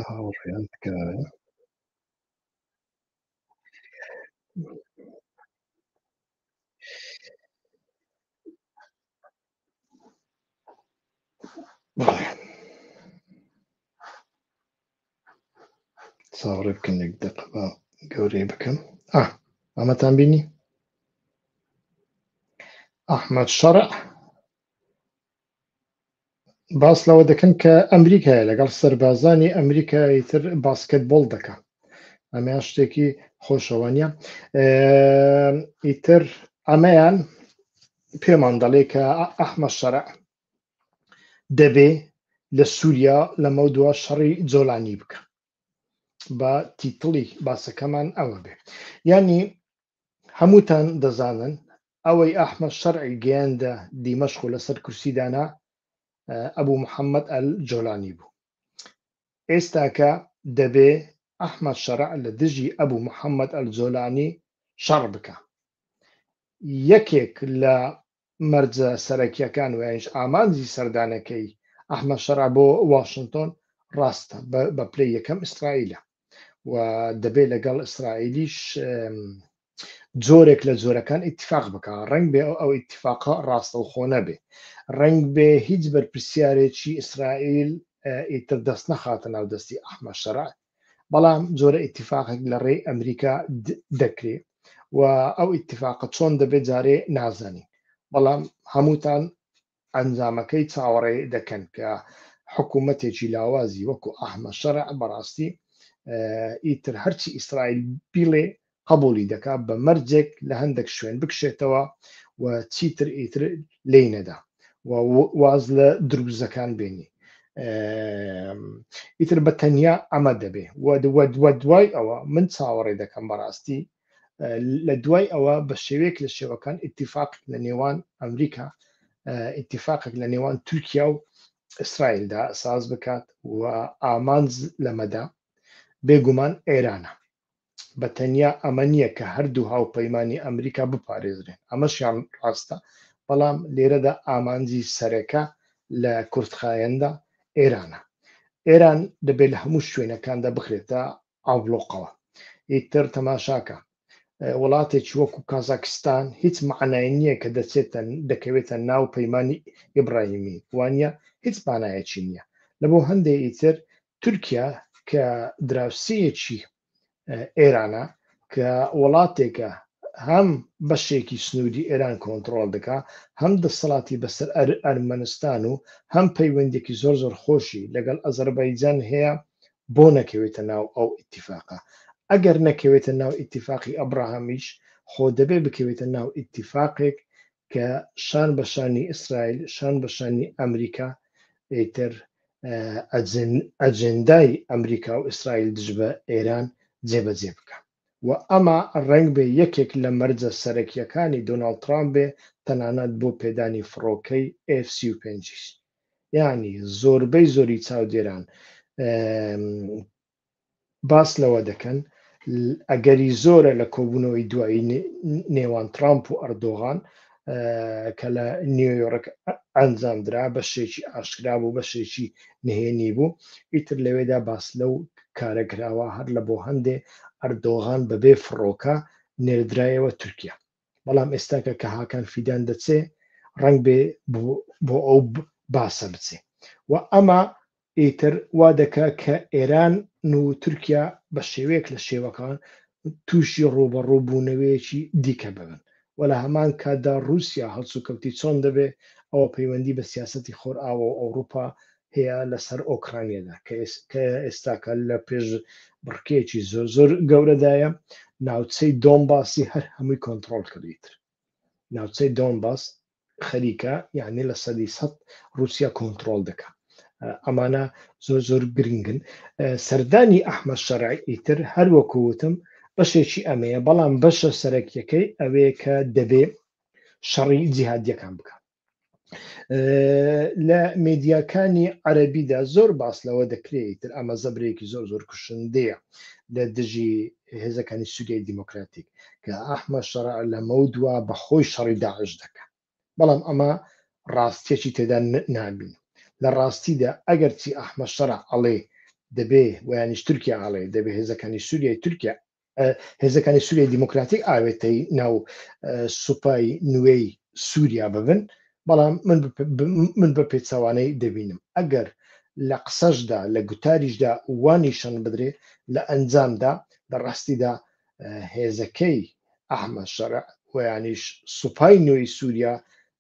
Speaker 1: هاوڕێیان تکایە ساڕێ بکەنێک دەق بە گەورەی بکەم ئەمەتان بینی ئەحمد شەڕع باس لەوە دەکەن کە ئەمریکای لەگەڵ سەربازانی ئەمریکای تر باسکت بۆڵ دەکە ئەمەیان شتێکی خۆشەوەنیە ئیتر ئەمەیان پێمان دەڵێ کە ئەحمە شەرع دەبێ لە سووریا لەمە دوا شەڕی جۆلانی بکە بە تیتڵی باسەکەمان ئەوە بێ ینی هەمووتان دەزانن ئەوەی ئەحمەد شەرعی گەیاندە دیمەشق و لەسەر کورسی دانا ئەبو محەممەد ئەل جۆلانی بوو ئێستاکە دەبێ ئەحمەد شەرع لە دژی ئەبو محەممەد ئەل جۆلانی شەڕ بکە یەکێک لە مەرجە سەرەکییەکان و یانیش ئامانجی سەردانەکەی ئەحمەد شەرع بۆ واشنتۆن ڕاستە بە پلەی یەکەم ئیسرائیلە و دەبێت لەگەڵ ئیسرائیلیش جۆرێک لە جۆرەکان ئیتفاق بکە ڕنگ بێ ئەو ئەو ئیتفاقە ڕاستەوخۆ نەبێ ڕنگ بێ هیچ بەرپرسیارێکی ئیسرائیل ئیتر دەست نەخاتە ناو دەستی ئەحمە شەرعات بەڵام جۆرە ئیتیفاقێک لە ڕێی ئەمریکا دەکرێ و ئەو ئیتیفاقە چۆن دەبێت جارێ نازانین بەڵام هەمووتان ئەنجامەکەی چاوەڕێ دەکەن کە حکوومەتێکی لاوازی وەکو ئەحمە شەرع بەڕاستی ئیتر هەرچی ئیسرائیل بیڵێ قەبووڵی دەکا بە مەرجێک لە هەندەک شوێن بکشێتەوە و چیتر ئیتر لێی نەدا و واز لە دروزەکان بێنی ئیتر بە تەنیا ئەمە دەبێ وە دوای ئەوە من چاوەڕێ دەکەم بەڕاستی لە دوای ئەوە بە شێوێک لە شێوەکان ئتیفاق لە نێوان ئەمریکا ئتیفاقێک لە نێوان تورکیا و ئیسرائیلدا ساز بکات و ئامانز لەمەدا بێگومان ئێرانە بە تەنیا ئەمە نییە کە هەردوو هاوپەیمانی ئەمریکا بپارێزرێن، ئەمەشیان ڕاستە، بەڵام لێرەدا ئامانجی سەرەکە لە کورتخایەندا ئێرانە. ئێران دەبێت لە هەموو شوێنەکاندا بخرێتە ئابڵۆقەوە. ئیتر تەماشاکە، وڵاتێکی وەکو کازاکستان هیچ معنای نییە کە دەچێتە دەکەوێتە ناو پەیمانی ئیبراهیمی، وانە هیچ مانایەکی نییە. لەبۆ هەندێ ئیتر تورکیا کە دراوسێیەکی ئێرانە کە وڵاتێکە هەم بەشێکی سنووری ئێران کۆنتترۆل دەکا هەم دەسەڵاتی بەسەر ئەرمەنستان و هەم پەیوەندێکی زۆر زۆر خۆشی لەگەڵ ئەزەربایجان هەیە بۆ نەکەوێتە ناو ئەو ئیتیفاقە ئەگەر نەکەوێتە ناو ئیتیفاقی ئەبراهامیش خۆ دەبێ بکەوێتە ناو ئیتیفاقێک کە شان بە شانی ئیسرائیل شان بە شانی ئەمریکا ئیتر ئەجندای ئەمریکا و ئیسرائیل دژ بە ئێران جێبەجێ بکە و ئەمە ڕنگ بێ یەکێک لە مەرجە سەرەکیەکانی دۆناڵ ترامپ بێ تەنانەت بۆ پێدانی فڕۆکەی ئێف سی و پێنجیش یعنی زۆربەی زۆری چاودێران باس لەوە دەکەن، ئەگەری زۆرە لە کۆبوونەوەی دوایی نێوان ترامپ و ئەردۆغان کە لە نیویۆرک ئەنجامدرا بەشێکی ئاشکرا بوو بەشێکی نهێنی بوو ئیتر لەوێدا باس لەو کارە کراوە هەر لە بۆ هەندێ ئەردۆغان بەبێ فڕۆکە نێردرایەوە تورکیا بەڵام ئێستا کە کە هاکان فیدان دەچێ ڕنگ بێ بۆ ئەو باسە بچێ و ئەمە ئیتر وا دەکە کە ئێران و تورکیا بە شێوەیەک لە شێوەکان تووشی ڕوبەڕووبوونەوەیەکی دیکە ببن و لە هەمان کاتدا رووسیا هەڵسوکەوتی چۆن دەبێ ئەوە پەیوەندی بە سیاستی خۆرئاوە و ئەوروپا هەیە لەسەر ئۆکرانیادا کە ئێستاکە لە پێش بڕکەیەکی زۆر زۆر گەورەدایە ناوچەی دۆم باسی هەر هەمووی کۆنتترۆل کردیت ناوچەی دۆم باس خەریکە یعنی لە سەدی سە رووسیا کۆنتترۆل دەکە ئەمانە زۆر زۆر گرنگن سەردانی ئەحمە شەرعی ئیتر هەر وەکووتم بەشێکی ئەمەیە بەڵام بەشە سەرەکیەکەی ئەوەیە کە دەبێ شەڕی جیهادیەکان بکە لە میدیاکانی عەربیدا زۆر باس لەوە دەکرێت تر ئەمە زەبرێکی زۆر زۆر کوشندەیە لە دژی هێزەکانی سووریای دیموکراتیک کە ئەحمە شەڕ لەمە و دوا بەخۆی شەڕی داعش دەکەن بەڵام ئەمە ڕاستێکی تێدا نابین لە ڕاستیدا ئەگەرچی ئەحمە شەڕ ئەڵێ دەبێ ویانیش تورکیا ئاڵێ دەبێ هێزەکانی سووریای تورکیا هێزەکانی سووریای دیموکراتیک ئاوێتەی ناو سوپای نوێی سووریا ببن بەڵام من بە پێچوانەی دەبینم ئەگەر لە قسەشدا لە گوتاریشدا وانی شەن بدرێ لە ئەنجامدا لە ڕاستیدا هێزەکەی ئەحمە شەرع ویانیش سوپای نوێی سووریا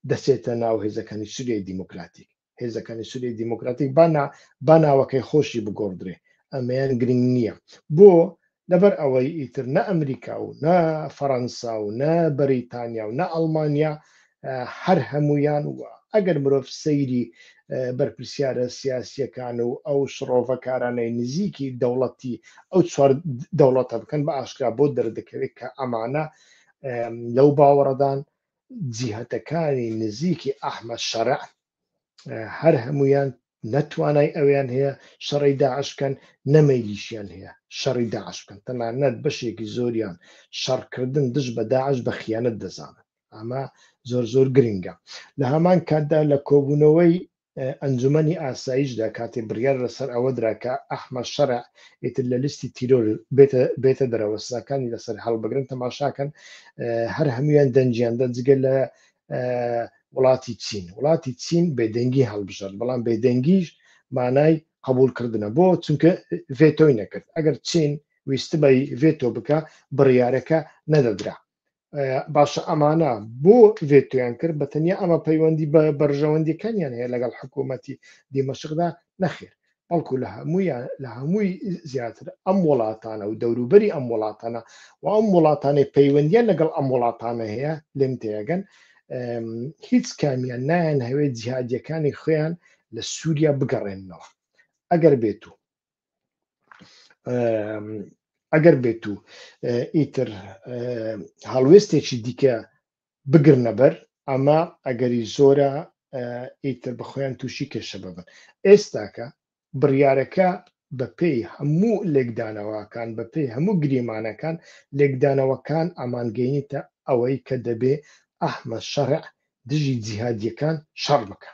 Speaker 1: دەچێتە ناو هێزەکانی سووریای دیموکراتیک هێزەکانی سوری دیموکراتیک بانا باناوەکەی خۆشی بگۆڕدرێ ئەمەیان گرنگ نییە بۆ لەبەر ئەوەی ئیتر نە ئەمریکا و نە فەەنسا و نە بەریتانیا و نە ئەڵمانیا هەر هەمویان وە ئەگەر مرۆڤ سەیری بەرپرسیارە سیاسیەکان و ئەو شڕۆڤەکارانەی نزیکی دەوڵەتی ئەو چوار دەوڵەتە بکەن بە ئاشکرا بۆ دەردەکەوێت کە ئەمانە لەو باوەڕدان جیهەتەکانی نزیکی ئەحمەد شەرع هەر هەموویان نە توانای ئەویان هەیە شەڕی داعش بکەن نە مەیلیشیان هەیە شەڕی داعش بکەن تەنانەت بەشێکی زۆریان شەڕکردن دژ بە داعش بە خیانەت دەزانن ئەمە زۆر زۆر گرنگە لە هەمان کاتدا لە کۆبوونەوەی ئەنجومەنی ئاسایشدا کاتێ بڕیار لەسەر ئەوە درا کە ئەحمەد شەرع ئیتر لە لیستی تیرۆر بێتە دەرەوە سزاکانی لەسەر هەڵبگرن تەماشاکەن هەر هەمویان دەنجیان دە جگە لە وڵاتی چین وڵاتی چین بێدەنگی هەڵبژرد بەڵام بێدەنگیش مانای قبول کردنە بۆ چونکە ڤێتۆی نەکرد ئەگەر چین ویستبای ڤێتۆ بکە بڕیارەکە نەدەدرا باشە ئەمانە بۆ ڤێتویان کرد بە تەنیا ئەمە پەیوەندی بە بەرژەوەندیەکانیان هەیە لەگەڵ حکوومەتی دیمەشقدا نەخێر بەڵکو لە هەمویان لە هەمووی زیاتر ئەم وڵاتانە و دەوروبەری ئەم وڵاتانە و ئەم وڵاتانەی پەیوەندیان لەگەڵ ئەم وڵاتانە هەیە لێم تێگەن هیچ کامیان نایەن هەوێت جیهادیەکانی خۆیان لە سووریا بگەڕێنەوە ئەگەر بێت و ئەگەر بێت و ئیتر هەڵوێستێکی دیکە بگرنەبەر ئەمە ئەگەری زۆرە ئیتر بەخۆیان تووشی کێشە ببن ئێستاکە بڕیارەکە بەپێی هەموو لێکدانەوەکان بەپێی هەموو گریمانەکان لێکدانەوەکان ئامانگەینی تا ئەوەی کە دەبێ ئەحمە شەڕع دژی جیهادیەکان شەڕ بکە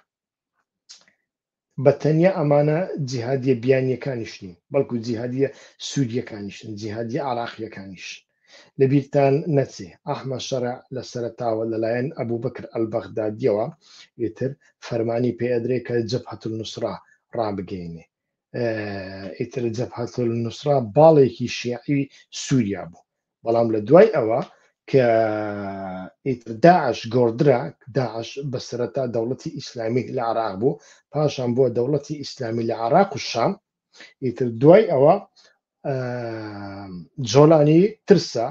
Speaker 1: بە تەنیا ئەمانە جیهادیە بیانیەکانیش نین بەڵکو جیهادیە سوریەکانیشن جیهادیە عراقیەکانیش لەبیرتان نەچێ ئەحمە شەرع لە سەرەتاوە لەلایەن ئەبوبەکر ئەلبەغدادیەوە ئیتر فەرمانی پێ ئەدرێ کە جەبهەت النوسرە ڕابگەینێ ئیتر جەبهەت النوسرە باڵێکی شیعی سوریا بوو بەڵام لە دوای ئەوە کە ئیتر داعش گۆڕدرا داعش بە سەرەتا دەوڵەتی ئیسلامی لە عراق بوو پاشان بووە دەوڵەتی ئیسلامی لە عراق و شام ئیتر دوای ئەوە جۆلانی ترسا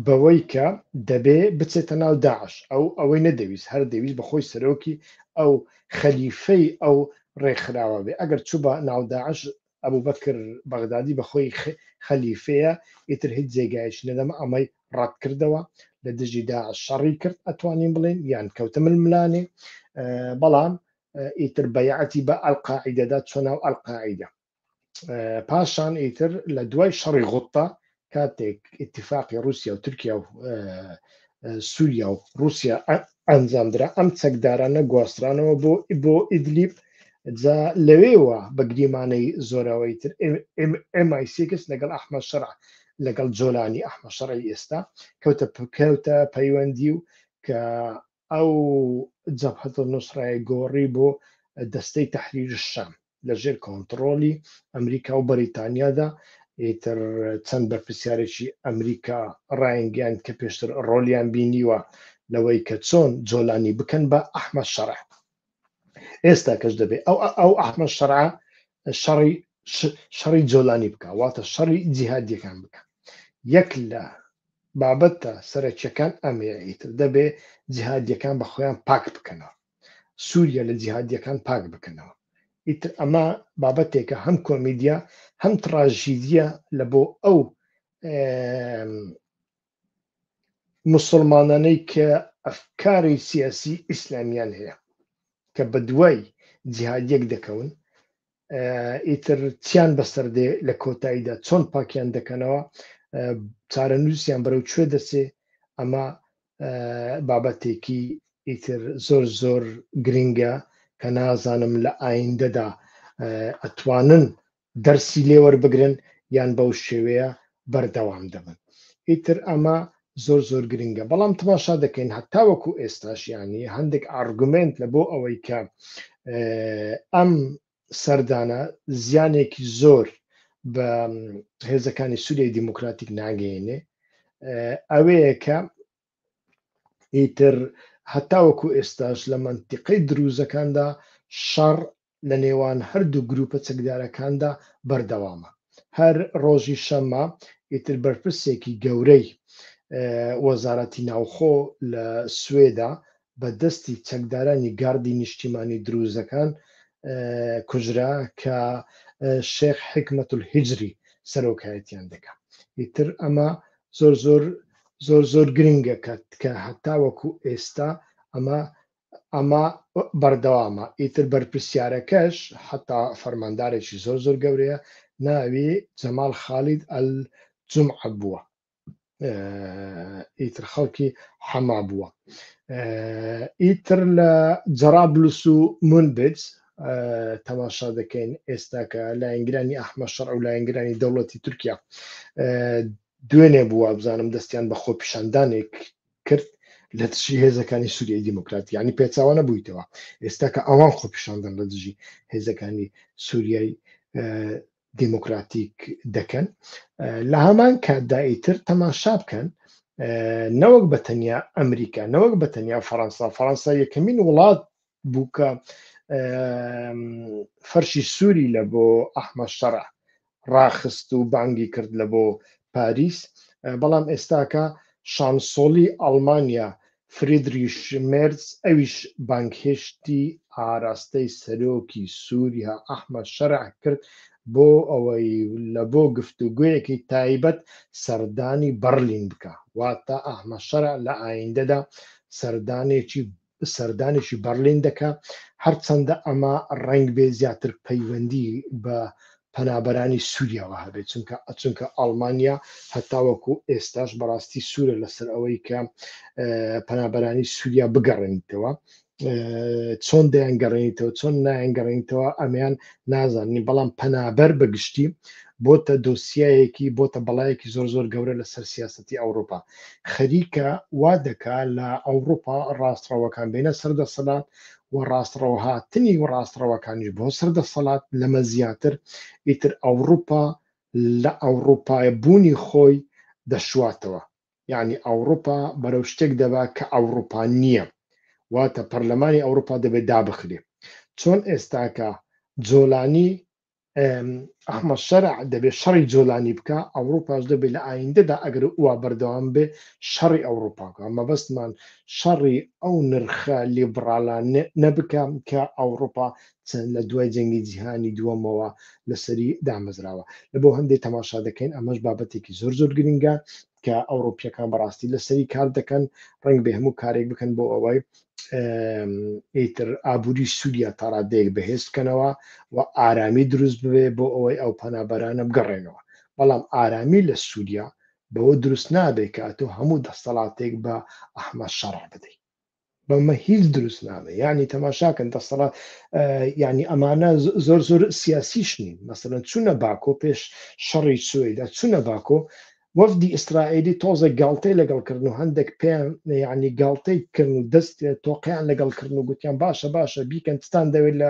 Speaker 1: بەوەی کە دەبێ بچێتە ناو داعش ئەو ئەوەی نەدەویست هەر دەویست بە خۆی سەرۆکی ئەو خەلیفەی ئەو ڕێکخراوە بێ ئەگەر چوو بە ناوداعش ئەبوبەکر بەغدادی بە خۆی خەلیفەیە ئیتر هیچ جێگایەکی نەدەما ئەمەی ڕەت کردەوە لە دژی داعش شەڕی کرد ئەتوانین بڵێن یان کەوتە ململانێ بەڵام ئیتر بەیعەتی بە ئەلقاعیدەدا چۆ ناو ئەلقاعیدە پاشان ئیتر لە دوای شەڕی غوتە کاتێک ئتیفاقی رووسیا و تورکیا و سووریا و رووسیا ئەنجامدرا ئەم چەکدارانە گواسترانەوە بۆ بۆ ئیدلیب جا لەوێوە بە گریمانەی زۆراوەی تر MI6 لەگەڵ ئەحمە شەرع لەگەڵ جۆلانی ئەحمە شەڕی ئێستا کەوتە کەوتە پەیوەندی و کە ئەو جەبهەت و نوسرای گۆڕی بۆ دەستەی تحریر شام لە ژێر کۆنتڕۆلی ئەمریکا و بەریتانیادا ئیتر چەند بەرپسیارێکی ئەمریکا ڕایانگەیان کە پێشتر ڕۆلیان بینیوە لەوەی کە چۆن جۆلانی بکەن بە ئەحمە شەڕە ئێستا کەش دەبێت ئەو ئەو ئەحمە شەرع شەڕی شەڕی جۆلانی بکە واتە شەڕی جیهادیەکان بکە یەک لە بابەتە سەرەکیەکان ئەمەیە ئیتر دەبێ جیهادیەکان بە خۆیان پاک بکەنەوە سووریا لە جیهادیەکان پاک بکەنەوە ئیتر ئەمە بابەتێکە هەم کۆمیدیا هەم تڕاژیدە لە بۆ ئەو موسڵمانانەی کە ئەفکاری سیاسی ئیسلامیان هەیە کە بە دوای جیهادیەک دەکەون ئیتر چیان بەسەر دێ لە کۆتاییدا چۆن پاکیان دەکەنەوە چارەنووسیان بەرەو کوێ دەچێ ئەمە بابەتێکی ئیتر زۆر زۆر گرنگە کە نازانم لە ئایندەدا ئەتوانن دەرسی لێ وەربگرن یان بەو شێوەیە بەردەوام دەبن ئیتر ئەمە زۆر زۆر گرنگە بەڵام تماشا دەکەین هەتا وەکو ئێستاش ینی هەندێک ئارگومنت لە بۆ ئەوەی کە ئەم سەردانە زیانێکی زۆر بە هێزەکانی سووریای دیموکراتیک ناگەێنێ ئەوەیە کە ئیتر هەتاوەکو ئێستاش لە منتیقەی دروزەکاندا شەڕ لە نێوان هەردوو گرووپە چەکدارەکاندا بەردەوامە. هەر ڕۆژی شەممە ئیتر بەرپرسێکی گەورەی وەزارەتی ناوخۆ لە سوێدا بە دەستی چەکدارانی گاردی نیشتیمانی درووزەکان کوژرا کە شێخ حیکمەتول هیجری سەرۆکایەتیان دەکا. ئیتر ئەمە زۆر زۆر زۆر زۆر گرنگە کە کە هەتاوەکو ئێستا ئەمە ئەمە بەردەوامە ئیتر بەرپرسیارەکەش حەتا فەرماندارێکی زۆر زۆر گەورەیە ناوی جەمال خالید ئەل جومعە بووە ئیتر خەڵکی حەما بووە ئیتر لە جەرابلوس و منبج تەماشا دەکەین ئێستا کە لایەنگرانی ئەحمە شەڕ و لایەنگرانی دەوڵەتی تورکیا دوێنێ بووە بزانم دەستیان بە خۆپیشاندانێک کرد لە دژی هێزەکانی سووریای دیموکرات یعنی پێچاوانە بوویتەوە ئێستا کە ئەوان خۆپیشاندان لە دژی هێزەکانی سووریای دیموکراتیک دەکەن لە هەمان کاتداییتر تەماشا بکەن نەوەک بە تەنیا ئەمریکا نەوەک بە تەنیا فەەنسا فەەنسا یەکەمین وڵات بووکە فەرشی سووری لە بۆ ئەحمە شەڕە ڕاخست و بانگی کرد لە بۆ پاریس بەڵام ئێستاکە شانسۆڵی ئەڵمانیا فریدریش مێرز ئەویش بانگهێشتی ئاراستەی سەرۆکی سووریا ئەحمە شەرع کرد بۆ ئەوەی لە بۆ گفتوگویەکی تایبەت سەردانی بەرلین بکە واتە ئەحمە شەرع لە ئایندەدا سەردانێکی سەردانێکی بەرلین دەکا هەرچەندە ئەمە ڕنگ بێ زیاتر پەیوەندی بە پەنابەرانی سووریاوە هەبێت چونکە ئەچونکە ئەڵمانیا هەتاوەکو ئێستاش بەڕاستی سوورە لەسەر ئەوەی کە پەنابەرانی سووریا بگەڕێنیتەوە چۆن دەیان گەڕێنیتەوە چۆن نایەن گەڕێنیتەوە ئەمیان نازاننی بەڵام پەنابەر بەگشتی بۆتە دۆسیایەکی بۆتە بەڵایەکی زۆر زۆر گەورە لەسەر سیاستی ئەوروپا خەریکە وا دەکا لە ئەوڕوپا ڕاستڕەوەکان بێنە سەر دەسەلات و ڕاستڕەوە هاتنی و ڕاستڕەوەکانیش بۆ سەر دەسەلات لەمە زیاتر ئیتر ئەوڕوپا لە ئەوڕوپای بوونی خۆی دەشواتەوە یەعنی ئەوڕوپا بەرەو شتێک دەبا کە ئەوڕوپا نیە واتە پەرلەمانی ئەوڕوپا دەبێ دابخرێ چۆن ئێستاکە جۆلانی ئەحمە شەرع دەبێت شەڕی جۆلانی بکە ئەوروپاش دەبێت لە ئایندەدا ئەگەر وا بەردەوام بێ شەڕی ئەوروپاکە مەبەستمان شەڕی ئەو نرخە لیبرالان نەبکەم کە ئەوروپا چەند لە دوای جەنگی جیهانی دووەمەوە لەسەری دامەزراوە لە بۆ هەندێک تەماشا دەکەین ئەمەش بابەتێکی زۆر زۆر گرنگە کە ئەوڕۆپیەکان بەڕاستی لەسەری کار دەکەن ڕنگ بێ هەموو کارێک بکەن بۆ ئەوەی ئیتر ئابووری سووریا تاڕادەیەک بەهێز بکەنەوە و ئارامی دروست ببێ بۆ ئەوەی ئەو پەنابەرانە بگەڕێنەوە بەڵام ئارامی لە سووریا بەوە دروست نابێت کە ئەتۆ هەموو دەستەڵاتێک بە ئەحمە شەڕع بدەیت بەمە هیچ دروست نابێ یعنی تەماشاکەن دەسەڵات یعنی ئەمانە زۆر زۆر سیاسیش نین مەسەن چوونە باکۆ پێش شەڕی سوێدا چوونە باکۆ وەفدی ئیسرائیلی تۆزە گاڵتەی لەگەڵکردن و هەندێک پێیان یعنی گاڵتەی کردن و دەست تۆقیان لەگەڵکردن و گوتیان باشە باشە بیکەن تان دەوێت لە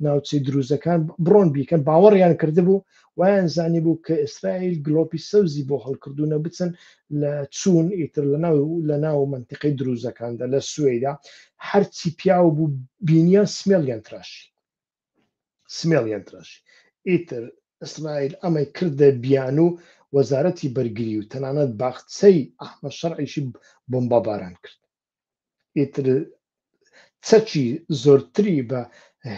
Speaker 1: ناوچەی دروزەکان بڕۆن بیکەن باوەڕیان کردبوو وایان زانیبوو کە ئیسرائیل گڵۆپی سەوزی بۆ هەڵکردوونە بچن لە چوون ئیتر لە ناو لە ناو منتیقەی دروزەکاندا لە سوێیدا هەرچی پیاو بوو بینیان سمێڵیان تراشی سمێڵیان تراشی ئیتر ئیسرائیل ئەمەی کردە بیان و وەزارەتی بەرگری و تەنانەت باخچەی ئەحمە شەرعیشی بۆمبا باران کرد ئیتر چەکی زۆرتری بە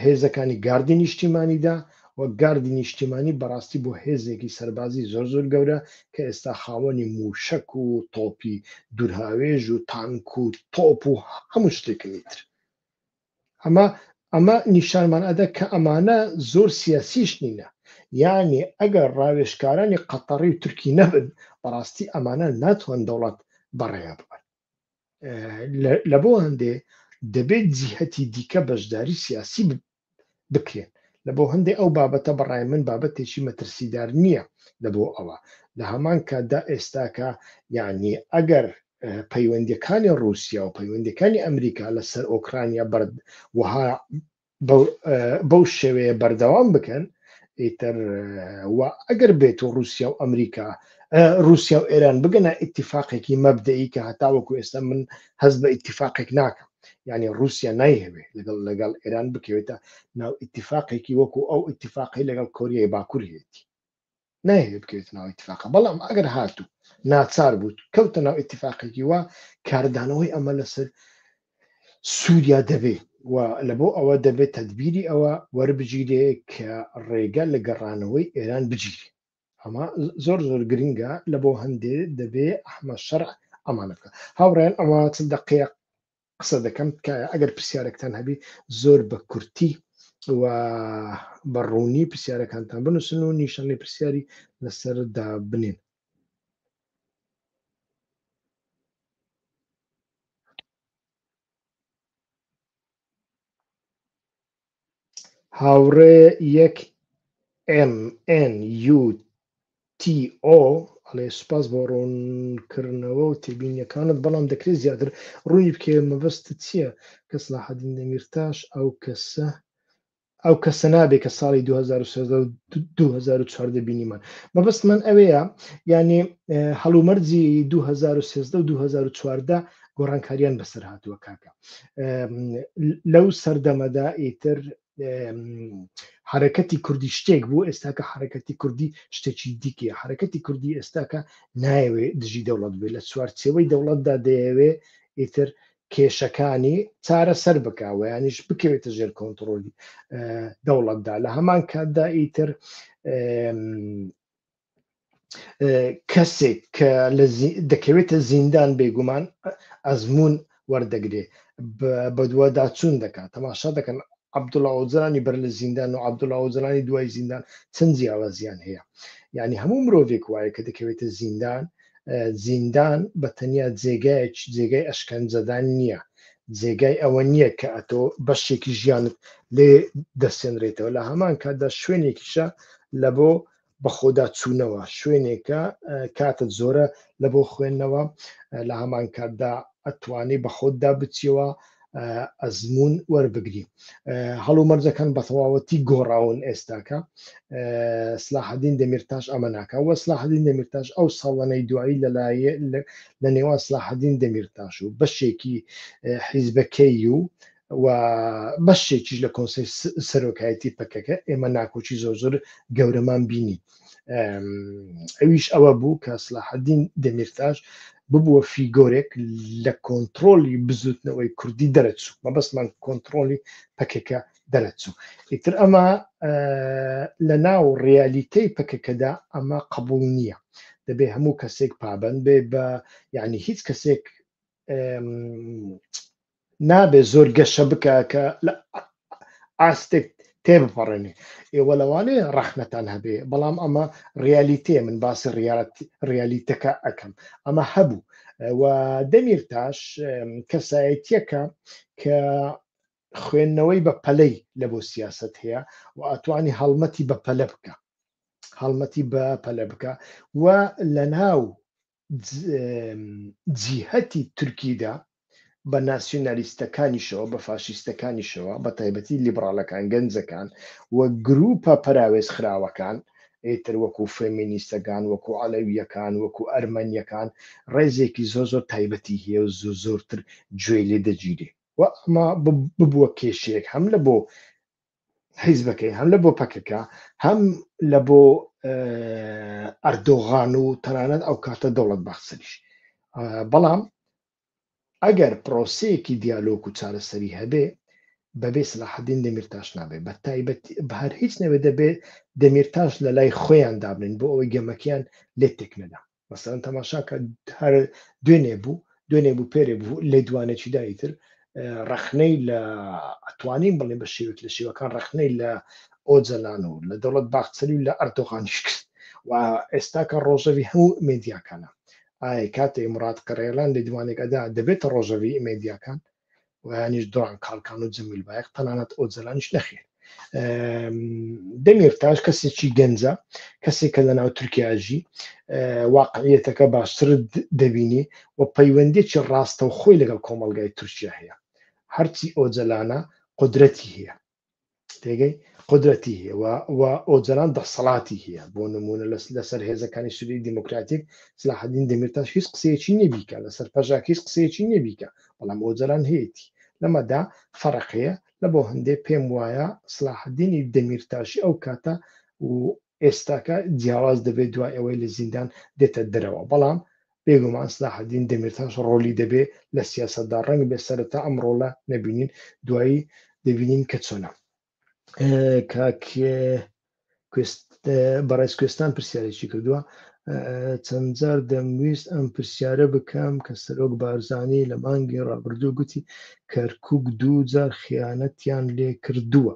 Speaker 1: هێزەکانی گاردی نیشتیمانیدا و گاردی نیشتیمانی بەڕاستی بۆ هێزێکی سەربازی زۆر زۆر گەورە کە ئێستا خاوەنی موشک و تۆپی دوورهاوێژ و تانک و تۆپ و هەموو شتێکنی تر ئەمە ئەمە نیشانمان ئەدا کە ئەمانە زۆر سیاسیش نینە یانێ ئەگەر ڕاوێشکارانی قەتەڕی و تورکی نەبن بەڕاستی ئەمانە ناتوان دەوڵات بەڕێە ببن لە بۆ هەندێ دەبێت جیهەتی دیکە بەشداری سیاسی بکرێن لە بۆ هەندێک ئەو بابەتە بەڕای من بابەتێکی مەترسیدار نییە لە بۆ ئەوە لە هەمان کاتدا ئێستاکە یعنی ئەگەر پەیوەندەکانی رووسیا و پەیوەندەکانی ئەمریکا لەسەر ئۆکرانیا بەرد وها بەو شێوەیە بەردەوام بکەن ئیتر ئەگەر بێت و رووسیا و ئەمریکا رووسیا و ئێران بگەنە ئیتیفاقێکی مەبدەی کە هەتاوەکو ئێستا من هەز بە ئیتیفاقێک ناکەم یعنی رووسیا نایهوێ لەگەڵ لەگەڵ ئێران بکەوێتە ناو ئیتیفاقێکی وەکو ئەو ئیتیفاقی لەگەڵ کۆریای باکوورهێتی نایەوێت بکەوێتە ناو ئیتفاقە بەڵام ئەگەر هاتوو ناچار بوو کەوتە ناو ئیتفاقێکی وا کاردانەوەی ئەمە لەسەر سووریا دەبێ و لە بۆ ئەوە دەبێت تدبیری ئەوە وەربگیرێ کە ڕێگە لە گەڕانەوەی ئێران بگیرێ ئەمە زۆر زۆر گرنگە لە بۆ هەندێ دەبێ ئەحمە شەر ئەمانە بکە هاوڕێن ئەمە چ دەقەیە قسە دەکەم تکایە ئەگەر پرسیارێکتان هەبی زۆر بە کورتی و بە ڕوونی پرسیارەکانتان بنووسن و نیشانەی پرسیاری لەسەردا بنێن هاوڕێ یەک MNUTO ئەڵێ سوپاس بۆ ڕوونکردنەوە و تێبینیەکانت بەڵام دەکرێت زیاتر ڕوونی بکەیە مەبەستت چییە کە سڵاحەدین دەمیرتاش ئەو کەسە ئەو کەسە نابێت کە ساڵی 2014 بینیمان مەبەست من ئەوەیە یعنی هەڵومەرجی 2013 و 2014 گۆڕانکاریان بەسەر هاتووە کاکە لەو سەردەمەدا ئیتر حرەکەتی کوردی شتێک بوو ئێستاکە حرەکەتی کوردی شتێکی دیکە حرەکەتی کوردی ئێستاکە نایەوێ دژی دەوڵەت بێ لە چوارچەوەی دەوڵەتدا دەیەوێ ئیتر کێشەکانی چارە سەر بکەوە ینیش بکەوێتە ژێر کۆنتترۆلی دەوڵەتدا لە هەمان کاتدا ئیتر کەسێک کە دەکەوێتە زیندان بێگومان ئەزمون وەردەگرێ بەدوواداچوون دەکات تەماشا دەکەن عبدوڵ ئەوجرانی بەر لە زیندان و عبدوڵ ئەوجرانی دوای زیندان چەند جیاوازیان هەیە یعنی هەموو مرۆڤێک وایە کە دەکەوێتە زیندان زیندان بە تەنیا جێگایەک جێگای ئەشکەنجەدان نییە جێگای ئەوە نییە کە ئەتۆ بەشێکی ژیانت لێ دەسێنرێتەوە لە هەمان کاتدا شوێنێکیشە لە بۆ بەخۆدا چوونەوە شوێنێکە کاتت زۆرە لە بۆ خوێندنەوە لە هەمان کاتدا ئەتوانی بە خۆتدا بچیەوە ئەزمون وەربگری هەڵو مەرجەکان بە تەواوەتی گۆڕاون ئێستاکە سلاحدین دەمیرتاش ئەمە ناکە وە سلاحدین دەمیرتاش ئەو ساڵانەی دوایی لەلایە لە نێوان سلاحدین دەمیرتاش و بەشێکی حیزبەکەی و و بەشێکیش لە کۆنسی سەرۆکایەتی پەکەکە ئێمە ناکۆکی زۆر زۆر گەورەمان بینی ئەویش ئەوە بوو کە سلاحدین دەمیرتاش ببووە فیگۆرێک لە کۆنتترۆلی بزوتنەوەی کوردی دەرەچوو مەبەستمان کۆنتترۆلی پەکەکە دەرەچوو ئیتر ئەمە لە ناو ڕیالیتەی پەکەکەدا ئەمە قبول نییە دەبێ هەموو کەسێک پابند بێ بە یعنی هیچ کەسێک نابێ زۆر گەشە بکە کە لە ئاستێک تێ بپەڕێنێ ئێوە لەوانێ ڕەخنەتان هەبێ بەڵام ئەمە ڕیالیتێ من باسی ڕیالیتەکە ئەەکەم ئەمە هەبوو و دەمیر تاش کەسایەتیەکە کە خوێندنەوەی بە پەلەی لە بۆ سیاست هەیە و ئەتوانی هەڵمەتی بە پەلە بکە هەڵمەتی بە پەلە بکە و لە ناو جیهەتی تورکیدا بە ناسیونالیستەکانیشەوە بە فاشیستەکانیشەوە بە تایبەتی لیبڕالەکان گەنجەکان و گروپە پەراوێز خراوەکان ئیتر وەکو فێمینیستەکان وەکو عەلەویەکان وەکو ئەرمەنیەکان ڕێزێکی زۆر زۆر تایبەتی هەیە و زۆر زۆرتر گوێی لێ دەگیرێ و ئەمە ببووە کێشەیەک هەم لە بۆ حیزبەکەی هەم لە بۆ پەکەکە هەم لە بۆ ئەردۆغان و تەنانەت ئەو کاتە دەوڵەت بەخسریش بەڵام ئەگەر پرۆسەیەکی دیالۆک و چارەسەری هەبێ بەبێ سلاحدین دەمیرتاش نابێت بە تایبەت بەهر هیچ نەوێ دەبێت دەمیرتاش لە لای خۆیان دابنن بۆ ئەوەی گەمەکیان لێ تێک نەدا مەسەن تەماشاکە هەر دوێنێ بوو دوێنێ بوو پێرێ بوو لە دوانێکی دایی تر ڕەخنەی لە ئەتوانین بڵێ بە شێوک لە شێوەکان ڕەخنەی لە ئۆجەلان و لە دەوڵەت باخچەری و لە ئەردۆغانیش کرد و ئێستا کە ڕۆژەوی هەموو مێدیاکانە ئایا کاتێ مراد قڕێلان لە دوانێک ئەدا دەبێتە ڕۆژەوی مێدیاکان وەیانیش دڕان کاڵکان و جەمیل بایق تەنانەت ئۆجەلانیش نەخێر دەمیرتاش کەسێکی گەنجە کەسێک کە لە ناو تورکیاژی واقعیەتەکە باشتر دەبینی و پەیوەندێکی ڕاستە و خۆی لەگەڵ کۆمەلگای تورکیا هەیە هەرچی ئۆجەلانە قدرەتی هەیە تێگەی قدرەتی هەیە و ئۆجەلان دەسەڵاتی هەیە بۆ نمونە لەس لەسەر هێزەکانی سوری دیموکراتیک سلاحدین دەمیرتاش هیچ قسەیەکی نەبیکە لەسەر پەژاک هیچ قسەیەکی نەبیکە بەڵام ئۆجەلان هەیەی لەمەدا فەرق هەیە لە بۆ هەندێک پێم وایە سلاحدینی دەمیرتاشی ئەو کاتە و ئێستاکە جیاواز دەبێت دوای ئەوەی لە زیندان دێتە دەرەوە، بەڵام بێگومان سلاحەدین دەمیرتاش ڕۆلی دەبێ لە سیاسەتدا، ڕەنگبێ سەرەتا ئەم ڕۆلە نەبینین دوایی دەبینین کە چۆنە. کاک بەڕێز کوێستان پرسیارێکی کردووە چەند جار دەمویست ئەم پرسیارە بکەم کە سەرۆک بارزانانی لە مانگی ڕابردوو گوتی کەرکک دوو جار خیانەتیان لێ کردووە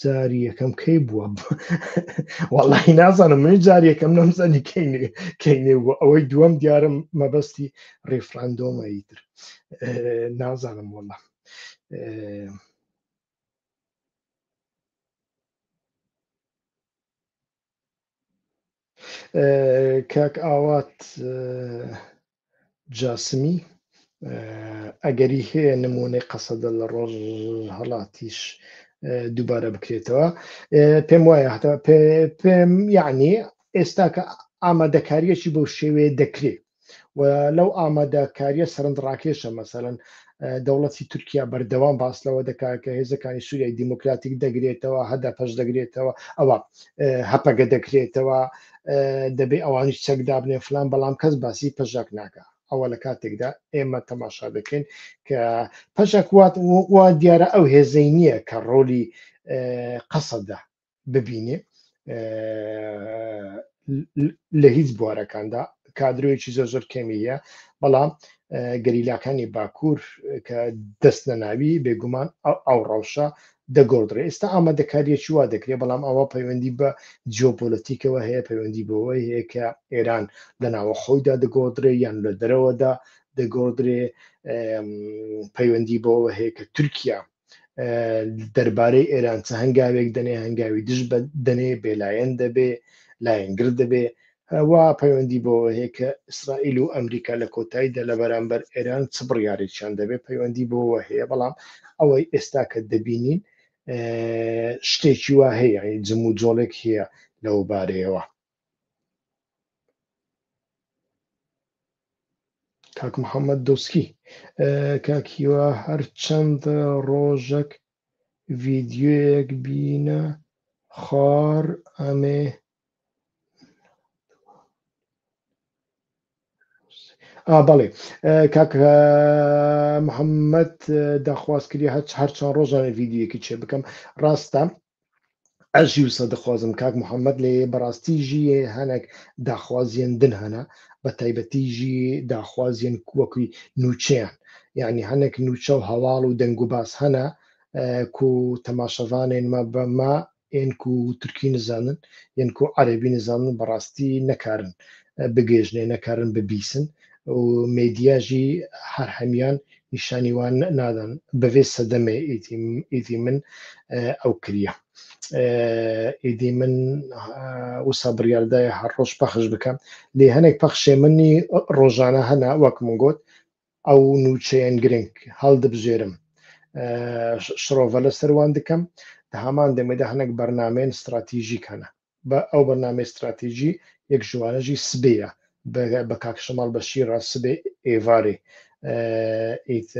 Speaker 1: جاری یەکەم کەی بووە وەڵی نازانم من جار یەکەم نەمزانی کەینێ بوو ئەوەی دووەم دیارم مەبەستی ڕیفراندۆمەی تر نازانم وەڵە کاک ئاوات جاسمی ئەگەری هەیە نمونەی قەسەدە لە ڕۆژ هەڵاتیش دووبارە بکرێتەوە پێم وایە هەتا پێم یعنی ئێستا کە ئامادەکاریەکی بۆ شێوەیە دەکرێت و لەو ئامادەکاریە سەرنج ڕاکێشە مەسەرەن دەوڵەتی تورکیا بەردەوام باس لەوە دەکات کە هێزەکانی سووریای دیموکراتیک دەگرێتەوە هەدا پەش دەگرێتەوە ئەوە هەپەگە دەکرێتەوە دەبێ ئەوانیش چەک دابنێ فلان بەڵام کەس باسی پەژاک ناکە ئەوە لە کاتێکدا ئێمە تەماشا دەکەین کە پەژاک وات وا دیارە ئەو هێزەی نییە کە ڕۆلی قەسەدا ببینێ لە هیچ بوارەکاندا کادرۆیەکی زۆر زۆر کەمی هەیە بەڵام گەریلاکانی باکوور کە دەست نەناوی بێگومان ئەو ڕەوشە دەگۆڕدرێ ئێستا ئامادەکاریەکی وا دەکرێت بەڵام ئەوە پەیوەندی بە جیۆپۆلەتیکەوە هەیە پەیوەندی بەوەی هەیە کە ئێران لە ناوە خۆیدا دەگۆدرێ یان لە دەرەوەدا دەگۆدرێ پەیوەندی بەوە هەیە کە تورکیا دەربارەی ئێران چە هەنگاوێک دەنێ هەنگاوی دژ بە دەنێ بێلایەن دەبێ لایەنگر دەبێ وا پەیوەندی بۆ هەیە کە ئیسرائیل و ئەمریکا لە کۆتاییدا لە بەرامبەر ئێران چ بڕیارێکیان دەبێ پەیوەندی بۆەوە هەیە بەڵام ئەوەی ئێستا کە دەبینین شتێکی وا هەیە جم و جۆڵێک هەیە لەو بارەیەوە کاک محەممەد دۆسکی کاک هیوا هەر چەند ڕۆژەک ڤیددیوەیەک بینە خار ئەمێ بەڵێ کاک محەممەد داخواست کردی هەر هەر چەند ڕۆژانە ڤیددیوەکی چێ بکەم ڕاستە ئەژی و سەدخوازم کاک محەممەد لێ بەڕاستی ژیە هەنێک داخوازیان دن هەنا بە تایبەتی ژی داخوازیان کووەکوی نوچیان یعنی هەنێک نوچە و هەواڵ و دەنگ و باس هەنا کو تەماشەوانێن مە بەمە ئێنک و تورکی نزانن یەنک و عەربی نزانن بەڕاستی نەکارن بگەێژنێ نەکارن ببیسن و مێدیاژی هەر هەمیان نیشانی وان نادەن بەێ سەدەمێ ئیدی من ئەو کریە ئیدی من وسا بڕاردایە هەر ڕۆژ پەخش بکەم لێ هەنێک پەخشێ منی ڕۆژانە هەنا وەک من گوت ئەو نوچەیەن گرنگ هەڵدبژێرم شڕۆڤە لە سەروان دکەم هەمان دەمێدا هەنێک بەرنمێن استراتیژی کەە بە ئەو بەرنامەی ستراتیجی یەک ژوانە ژی سبێیە بە کاک شەماڵ بە شیڕا سبێ ئێوارێ ئیت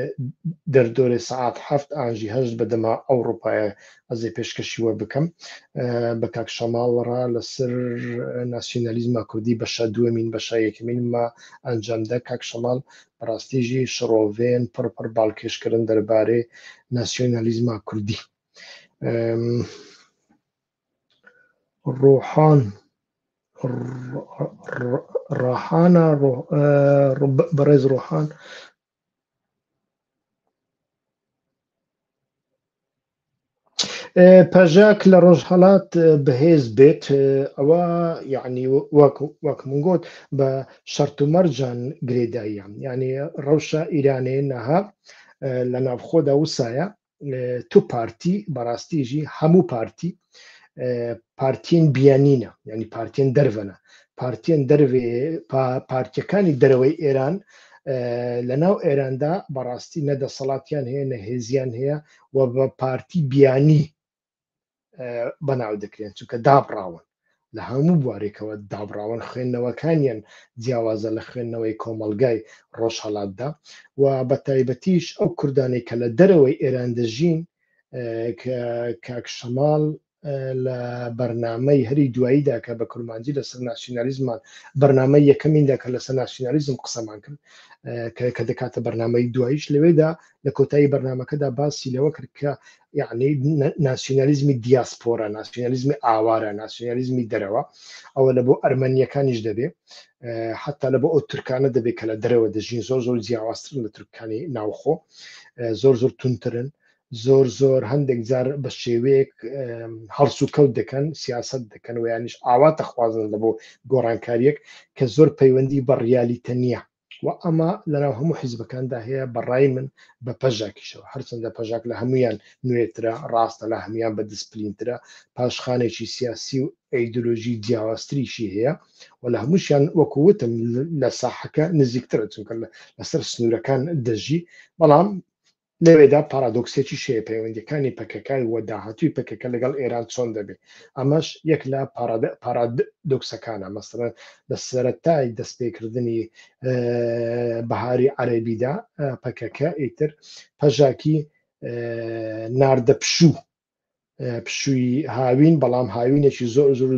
Speaker 1: دەردۆرێ سەعات هەفت ئاژی هەشت بە دەما ئەو ڕوپایە ئەزێ پێشکەشی وە بکەم بە کاک شەماڵ ڕا لەسەر ناسیۆنالیزما کوردی بەشە دووەمین بەشە یەکەمین ما ئەنجامدا کاک شەماڵ بەڕاستیژی شڕۆڤێن پڕپڕ باڵکێشکردن دەربارەی ناسیۆنالیزما کوردی. ڕۆحان ڕاحانە بەڕێز ڕۆحان پەژاک لە ڕۆژهەڵات بەهێز بێت ئەوە یعنی وەک من گوت بە شەرت و مەرجان گرێداییان یعنی ڕەوشە ئیرانێ نەها لە ناوخۆدا وسایە تو پارتی بەڕاستیژی هەموو پارتی پارتین بیانینە ینی پارتین دەرەنە پارتین دەروێ پارتیەکانی دەرەوەی ئێران لە ناو ئێراندا بەڕاستی نەدەسەڵاتیان هەیە نە هێزیان هەیە و بە پارتی بیانی بەناو دەکرێن چونکە دابڕاون لە هەموو بوارێکەوە دابراون خوێندنەوەکانیان جیاوازە لە خوێندنەوەی کۆمەلگای ڕۆژهڵاتدا و بە تایبەتیش ئەو کوردانی کە لە دەرەوەی ئێران دەژین کاکشەماڵ لە بەرنمەی هەری دواییدا کە بە کورمانجی لەسەر ناسیۆنالیزمان بەرنمەی یەکەمیندا کە لەسەر ناسیۆنالیزم قسەمان کرد کە دەکاتە بەرنمەی دوایش لەوێدا لە کۆتایی بەرنمەکەدا باسی لەوە کرد کە یعنی ناسیۆنالیزمی دیاسپۆرە ناسیۆنالیزمی ئاوارە ناسیۆنالیزمی دەرەوە ئەوە لە بۆ ئەرمەنیەکانیش دەبێ حتا لە بۆ ئەو ترکانە دەبێت کە لە دەرەوە دەژین زۆر زۆر جیاوازترن لە ترکانی ناوخۆ زۆر زۆر تونترن زۆر زۆر هەندێک جار بە شێوەیەک هەڵس و کەوت دەکەن سیاست دەکەن و یانیش ئاوا تەخوازن لە بۆ گۆڕانکاریەک کە زۆر پەیوەندی بە ڕیالیتە نییە و ئەمە لەناو هەموو حیزبەکاندا هەیە بەڕای من بە پەژاکیشەوە هەرچەندە پەژاک لە هەمویان نوێترە ڕاستە لە هەمویان بە دسپلینترە پاشخانێکی سیاسی و ئەیدۆلۆژی جیاوازتریشی هەیە و لە هەمووشیان وەکووتم لە ساحەکە نزیکترە چونکە لەسەر سنوورەکان دەژی بەڵام لەوێدا پارادۆکسێکیش هەیە، پەیوەندییەکانی پەکەکە و داهاتووی پەکەکە لەگەڵ ئێران چۆن دەبێ؟ ئەمەش یەک لە پارادۆکسەکانە، مەسەلەن لە سەرەتای دەستپێکردنی بەهاری عەرەبیدا پەکەکە ئیتر پەژاکی ناردە پشوو پشووی هاوین بەڵام هاوینێکی زۆر زۆر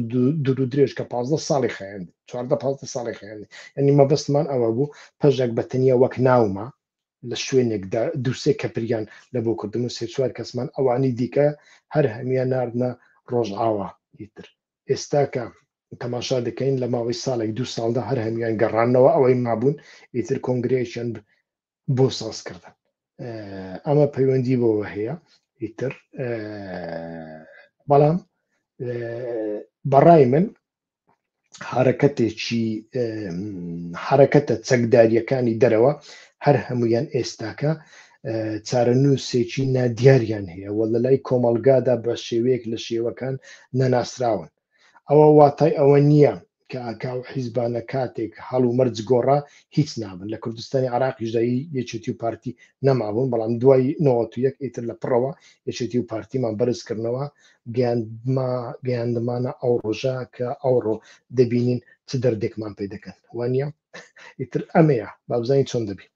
Speaker 1: دوور درێژ کە پازدە ساڵی خێن چواردە پ ساڵی خێن ئەنی مەبستمان ئەوە بوو پەژێک بە تەنیا وەک ناومە لە شوێنێکدا دووسێ کەپریان لە بۆ کردن و سێ چوار کەسمان ئەوانی دیکە هەر هەمیە نردە ڕۆژئاوا ئیتر ئێستاکە تەماشا دەکەین لە ماوەی ساڵێک دو ساڵدا هەر هەمیان گەڕانەوە ئەوەی مابوون ئیتر کۆنگرەیەکیان بۆ سازکردن ئەمە پەیوەندی بۆەوە هەیە ئیتر بەڵام بەڕای من حرەکەتێکی حرەکەتە چەکداریەکانی دەرەوە هەر هەمویان ئێستاکە چارەنووسێکی نادیاریان هەیە و لە لای کۆمەلگادا بە شێوەیەک لە شێوەکان نەناسراون ئەوە واتای ئەوە نییە کە ئاکا و حیزبانە کاتێک هەڵ و مەرج گۆڕا هیچ نابن، لە کوردستانی عێراقیشدا یەکێتی و پارتی نەمابوون، بەڵام دوای نەوەت و یەک ئیتر لە پڕەوە یەکێتی و پارتیمان بەرز کردنەوە، گەیاندمانە ئەو ڕۆژە کە ئەوڕۆ دەبینین چ دەردێکمان پێ دەکەن، وانییە؟ ئیتر ئەمەیە با بزانین چۆن دەبین.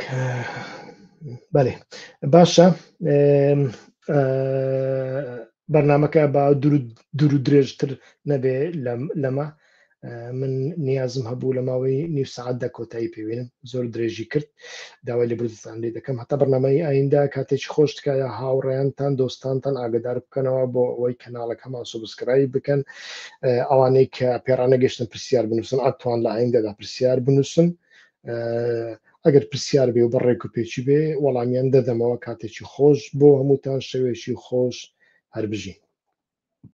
Speaker 1: کە بەێ باشە بەرنمەکە با دوور و درێژتر نەبێ لەمە من نیازم هەبوو لە ماوەی نیو سعاتدا کۆتایی پێوێنم زۆر درێژی کرد داوای لە بردستان لێ دەکەم هەتا بەرنمەی ئایندا کاتێکی خۆش تکایە هاوڕێیانتان دۆستانتان ئاگدار بکەنەوە بۆ ئەوەی کەناڵەکەمان سوبسکرای بکەن ئەوانەی کە پێرانەگەشتن پرسیار بنووسن ئەتوان لە ئایندەدا پرسیار بنووسن ئەگەر پرسیار بێ و بە ڕێک و پێچی بێ وەڵامیان دەدەمەوە کاتێکی خۆش بۆ هەمووتان شەوێکی خۆش هەربژین